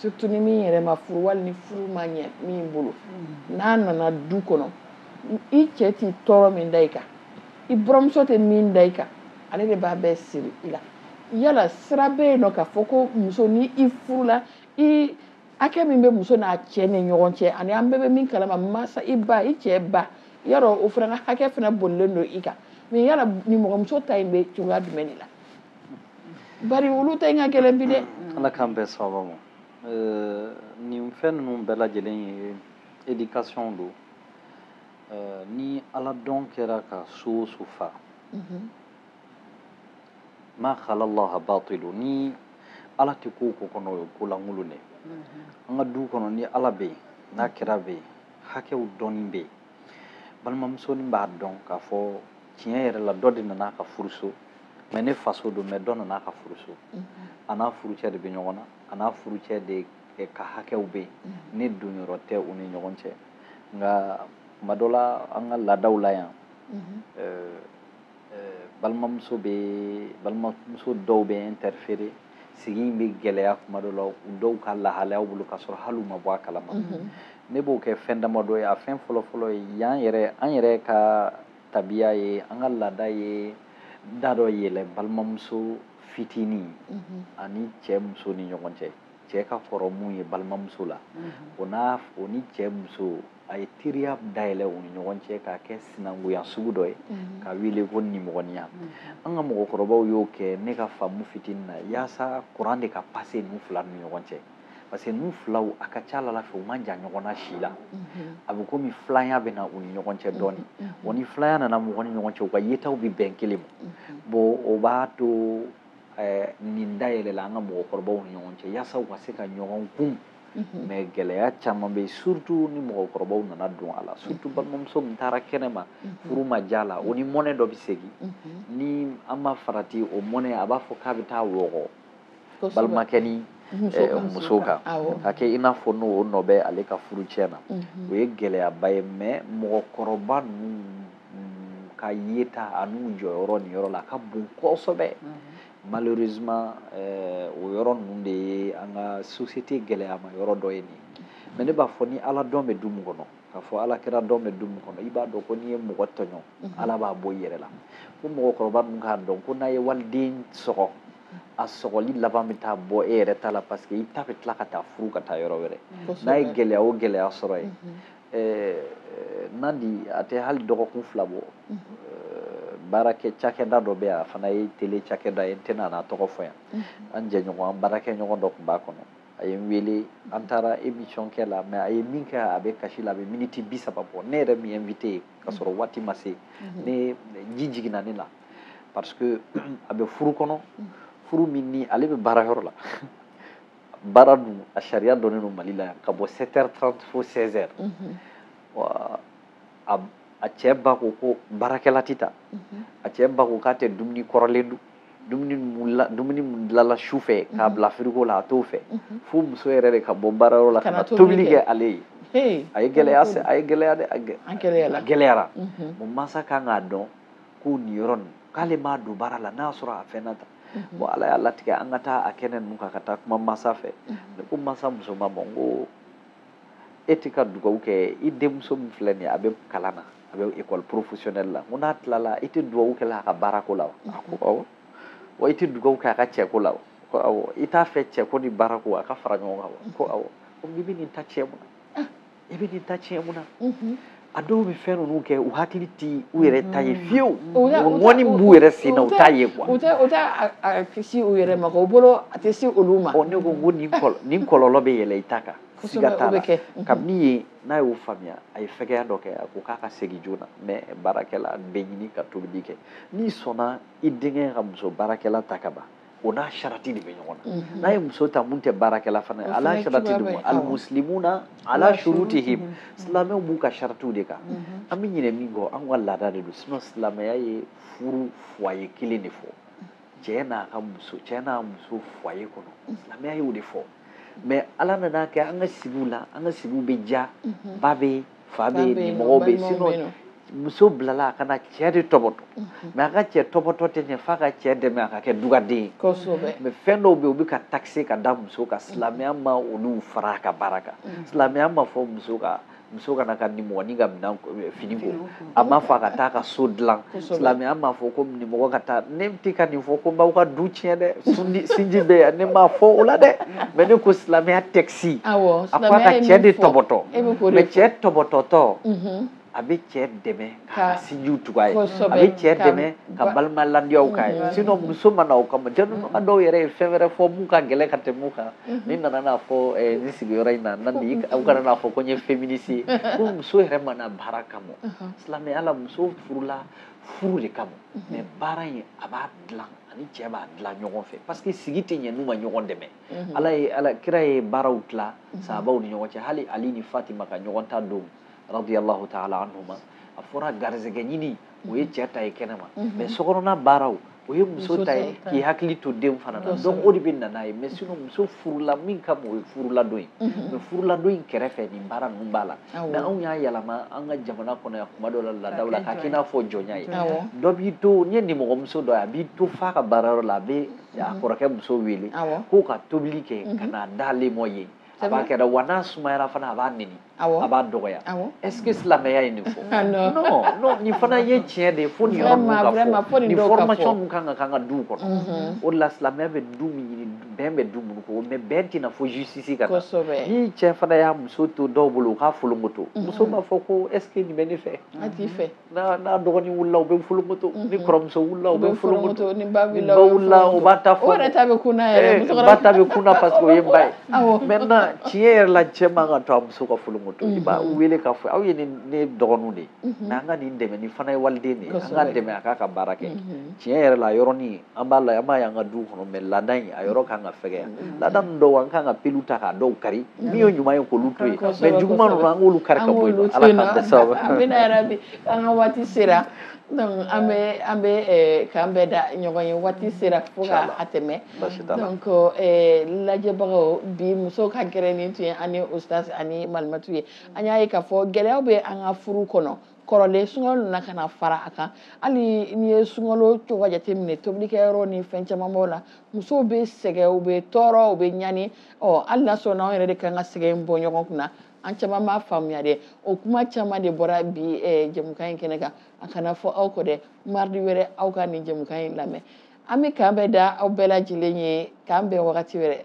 surtout ni min yɛrɛ ma furu wali ni furu ma ɲɛ min bolo mm. n'a nana du kɔnɔ i cɛ tɛ tɔɔrɔ min da i kan i buranmuso tɛ min da i kan ale de b'a bɛɛ siri i la yala sira bɛ yen nɔ k'a fɔ ko muso ni i furula i hakɛ min bɛ muso n'a cɛ ni ɲɔgɔn cɛ ani an bɛɛ bɛ min kalama mansa i ba i cɛ ba yɔrɔ o fana ka hakɛ fana bolilen don i kan mɛ yala nimɔgɔmuso ta in bɛ cogoya jumɛn de la bari olu ta in ka gɛlɛn bi dɛ mm, ala k'an bɛɛ sababa ma eh, nin fɛn ninnu bɛɛ lajɛlen ye éducation don eh, ni ala dɔn kɛra ka so o so fa mhm. ma halallaha batilu ni ala tɛ ko o ko kɔnɔ o ye ko lankolon dɛ an ka du kɔnɔ ni ala bɛ yen ni kira bɛ yen hakɛw dɔnni bɛ yen balimamusonin b'a dɔn k'a fɔ tiɲɛ yɛrɛ la dɔ de nana a ka furuso mɛ ne faso don mɛ dɔ nana a ka furuso a n'a furucɛ de bɛ ɲɔgɔn na a n'a furucɛ de ka hakɛw bɛ yen ne don yɔrɔ tɛ u ni ɲɔgɔn cɛ nka kuma dɔ la an ka laadaw la yan balimamuso bɛ balimamuso dɔw bɛ interférer sigi in bɛ gɛlɛya kuma dɔ la u dɔw ka lahalayaw bolo ka sɔrɔ hali u ma bɔ a kalama mhm. ne b'o kɛ fɛn damadɔ ye a fɛn fɔlɔfɔlɔ ye yan yɛrɛ an yɛrɛ ka tabiya ye an ka laada ye da dɔ yɛlɛ balimamuso fitinin mhm. ani cɛ muso ni ɲɔgɔn cɛ cɛ ka kɔrɔ mun ye balimamuso la mhm. o n'a o ni cɛ muso a ye teriya dayɛlɛ u ni ɲɔgɔn cɛ k'a kɛ sinankunya sugu dɔ ye mhm. k'a wele ko nimɔgɔniya mhm. an ka mɔgɔkɔrɔbaw y'o kɛ ne ka faamu fitini na yaasa kuran de ka pase ninnu fila ni ɲɔgɔn cɛ parce que ninnu filaw a ka ca a la fɛ u man jan ɲɔgɔn na si la mhm. a bɛ komi filanya bɛ na u ni ɲɔgɔn cɛ dɔɔni wa ni filanya nana mɔgɔ ni ɲɔgɔn cɛ u ka yetaw bɛ bɛn kelen ma bon o b'a to eh, nin dayɛlɛla an ka mɔgɔkɔrɔbaw ni ɲɔgɔn cɛ yaasa u ka se ka ɲɔgɔn kun mhm. mais gɛlɛya caman bɛ yen surtout ni mɔgɔkɔrɔbaw nana don a la surtout mhm. balimamuso min taara kɛnɛ ma mhm. furu ma diya a la o ni mɔnɛ dɔ bɛ segin ni an ma farati o mɔnɛ a b'a fɔ k'a bɛ taa wɔgɔ balimakɛ ni eh, muso kan ka kɛ i n'a fɔ n'o nɔ bɛ ale ka furu cɛn na o ye gɛlɛyaba ye mais mɔgɔkɔrɔba ninnu ka yeta ani u jɔyɔrɔ nin yɔrɔ la a ka bon kosɛbɛ malheureusement eh, o yɔrɔ ninnu de ye an ka société gɛlɛyama yɔrɔ dɔ ye nin mais ne b'a fɔ ni ala dɔn bɛ du min kɔnɔ k'a fɔ ala kira dɔn bɛ du min kɔnɔ i b'a dɔn ko n'i ye mɔgɔ tɔɲɔ mhm. ala b'a bɔ i yɛrɛ la ko mɔgɔkɔrɔba ninnu k'a dɔn ko n'a ye waliden sɔgɔ a sɔgɔli laban bɛ taa bɔ e yɛrɛ ta la parce que i ta bɛ tila ka taa furu ka taa yɔrɔ wɛrɛ n'a ye gɛlɛya o gɛlɛya sɔrɔ yen mhm. nandi a tɛ hali dɔgɔkun fila bɔ baarakɛ cakɛda dɔ bɛ yan a fana ye tele cakɛda ye n tɛna n'a tɔgɔ fɔ yan an jɛɲɔgɔn an baarakɛ ɲɔgɔn dɔ tun b'a kɔnɔ a ye n wele an taara emission kɛ la mais a ye min kɛ a bɛ kasi la a bɛ miniti bi saba bɔ ne yɛrɛ min invité ye ka sɔrɔ waati ma se ɲɛji jiginna ne la parce que a bɛ furu kɔnɔ furu min ni ale bɛ baarayɔrɔ la baara dun a sariya dɔnnen don mali la yan ka bɔ 7 heures 30 fo 16 heures wa a a cɛ ba ko ko baarakɛla tɛ ta a cɛ ba ko k'a tɛ dumuni kɔrɔlen dun dumuni mun la dumuni mun dilala su fɛ k'a bila firigo la a t'o fɛ fo muso yɛrɛ de ka bɔ baarayɔrɔ la ka na tobili kɛ ale ye Hey, a ye gɛlɛya se a ye gɛlɛya de a gɛ- a gɛlɛyala a gɛlɛyara mansa kan k'a dɔn ko nin yɔrɔ nin k'ale m'a don baara la n'a sɔrɔ a fɛnna ta mhm. bon ala y'a latigɛ an ka taa a kɛnɛ ninnu kan ka taa kuma mansa fɛ mhm. ne ko mansa muso ma ma n ko e tɛ ka dugawu kɛ i denmuso min filɛ nin ye a bɛ kalan na a bɛ école professionnelle la n ko n'a tilala i tɛ dugawu kɛ la a ka baarako la wa mhm. a ko awɔ wa i tɛ dugawu kɛ a ka cɛko la wa ko awɔ i t'a fɛ cɛko ni baarako a ka fara ɲɔgɔn kan wa ko awɔ ko n'i bɛ nin ta cɛn mun na i bɛ k'i ta tiɲɛ mun na a dɔw bɛ fɛn ninnu kɛ u hakili tɛ u yɛrɛ ta ye fiyewu ŋɔni b'u yɛrɛ sen na u t'a ye quoi u tɛ kisi u yɛrɛ ma u bolo a tɛ se olu ma ne ko ko nin kɔlɔlɔ bɛ yɛlɛ i ta kan siga t'a la kabini yen n'a y'o faamuya a ye fɛgɛya dɔ kɛ a ko k'a ka segin joona mais baarakɛla bɛ ɲini ka tobili kɛ n'i sɔnna i denkɛ ka muso baarakɛla ta kaban o n'a sarati de bɛ ɲɔgɔn na mhm. n'a ye muso ta min tɛ baarakɛla fana ye ala sarati de ma alimuslimuna ala shurutihim mhm. silamɛw b'u ka saratiw de kan mhm. an bɛ ɲinɛ min kɔ an ka laada de don sinon silamɛya ye furu foyer kelen de fɔ cɛ n'a ka muso cɛ n'a muso foyer kɔnɔ silamɛya y'o de fɔ mais ala nana kɛ an ka sigiw la an ka sigiw bɛ ja ba bɛ fa bɛ yen nimɔgɔw bɛ yen sinon muso bilala a ka na cɛ de tɔbɔtɔ mhm. mais a ka cɛ tɔbɔtɔ tɛ ɲɛ f'a ka cɛ dɛmɛ a ka kɛ dugaden ye mais fɛn dɔw bɛ yen u bɛ ka taxer ka da muso kan silamɛya ma olu fara a ka baara kan mhm. silamɛya ma fɔ muso ka muso ka na a ka nimɔgɔnin ka minɛn eh, fini ko a ma fɔ a ka taa ka so dilan silamɛya ma fɔ ko nimɔgɔ ka taa ne tɛ ka nin fɔ ko n b'aw ka du tiɲɛ dɛ sinji bɛ yan ne ma fɔ o la dɛ mais ne ko silamɛya tɛ si a ko a ka cɛ de tɔbɔtɔ mais cɛ tɔbɔtɔtɔ a bɛ cɛ dɛmɛ ka sinjiw tugu a ye a bɛ cɛ dɛmɛ ka balima ladiyaw k'a ye sinon muso ma na o kama jɛnuma dɔw yɛrɛ ye fɛn wɛrɛ fɔ min ka gɛlɛn ka tɛmɛ o kan ni n nana n'a fɔ nin sigiyɔrɔ in na na ni aw kana n'a fɔ ko n ye féministe ye ko muso yɛrɛ ma na baara kama silamɛya la muso furula furu de kama mais baara in a b'a dilan a ni cɛ b'a dilan ɲɔgɔn fɛ parce que sigi tɛ ɲɛ n'u ma ɲɔgɔn dɛmɛ mhm. ala ye ala kira ye baaraw tila mhm. sahabaw ni ɲɔgɔn cɛ hali ali ni fatima ka ɲɔgɔn ta don radiyallahu ta'ala anhuma a fɔra garisɛgɛ ɲini o ye cɛ ta ye kɛnɛma mhm. mais sokɔnɔna baaraw o ye muso ta ye k'i hakili to den fana na donc o de bɛ na n'a ye mais sinon muso furula min ka bon o ye furuladon ye mais furuladon in kɛrɛfɛ nin baara ninnu b'a la mais anw y'a yɛlɛma an ka jamana kɔnɔ yan kuma dɔ la laadaw la k'a k'i n'a fɔ jɔnya ye dɔ b'i to n'i ye nimɔgɔmuso dɔ ye a b'i to f'a ka baarayɔrɔ la a bɛ a kɔrɔkɛ muso wele k'o ka tobili kɛ ka mhm. n'a d'ale ma yen a b'a kɛra wa n'a sumayara fana a b'a neni a b'a dɔgɔya est-ce que silamɛya ye nin fɔ ah, non non nin fana ye tiɲɛ de ye fo nin yɔrɔ ninnu ka fɔ nin formation ninnu ka k'an ka duw kɔnɔ mhm. o de la silamɛya bɛ du min ɲini bɛn bɛ du minnu kɔnɔ mais bɛn tɛ na fo justice ka na ni cɛ fana y'a muso to dɔw bolo u k'a folonkoto mhm. muso b'a fɔ ko est-ce que nin bɛ ne fɛ a t'i fɛ n'a dɔgɔnin wulila o b'a folokoto mhm. ni kɔrɔmuso wulila o b'a folokoto ni ba wulila u b'a ta fɔ o yɛrɛ ta bɛ kun na yɛrɛ eh, ba ta bɛ kun na parce que o ye ba ye maintenant tiɲɛ yɛrɛ la cɛ man kan k'a to a muso ka folokoto i b'a mhm. wele k'a fɔ aw ye ne dɔgɔninw de ye mhm. mais an ka nin dɛmɛ nin fana ye waliden de ye an k'a dɛmɛ a k'a ka baara kɛ tiɲɛ yɛrɛ la yɔrɔnin an b'a la an b'a y'an ka duw kɔnɔ mɛ laada in a yɔrɔ kan ka fɛgɛya mm-hmm. laada ninnu dɔw an kan ka pelu ta k'a dɔw kari mm-hmm. min ye ɲuman ye k'olu to yen mɛ juguman ninnu an k'olu kari ka bɔ yen ala k'an tɛ sababu an bɛna yɛrɛ bi an ka waati sera donc an bɛ an bɛ eh, k'an bɛn da ɲɔgɔn ye waati sera fo ka a tɛmɛ donc eh, lajɛbagaw bi muso ka gɛrɛn in tun ye an ni ustaz ani malimatu ye an y'a ye k'a fɔ gɛlɛyaw bɛ an ka furu kɔnɔ kɔrɔlen sunkalo nana ka na fara a kan hali n'i ye sunkalo cogoya jateminɛ tobilikɛyɔrɔ ni fɛn caman b'o la musow bɛ sɛgɛn u bɛ tɔɔrɔ u bɛ ɲani ɔ hali n'a sɔrɔ n'anw yɛrɛ de kan ka sɛgɛn in bɔ ɲɔgɔn kunna an caman b'a faamuya dɛ o kuma caman de bɔra bi eh, jɛmukan in kɛnɛ kan a kana fɔ aw kɔ dɛ maridi wɛrɛ aw ka nin jɛmukan in lamɛn an bɛ k'an bɛn da aw bɛɛ lajɛlen ye k'an bɛn wagati wɛrɛ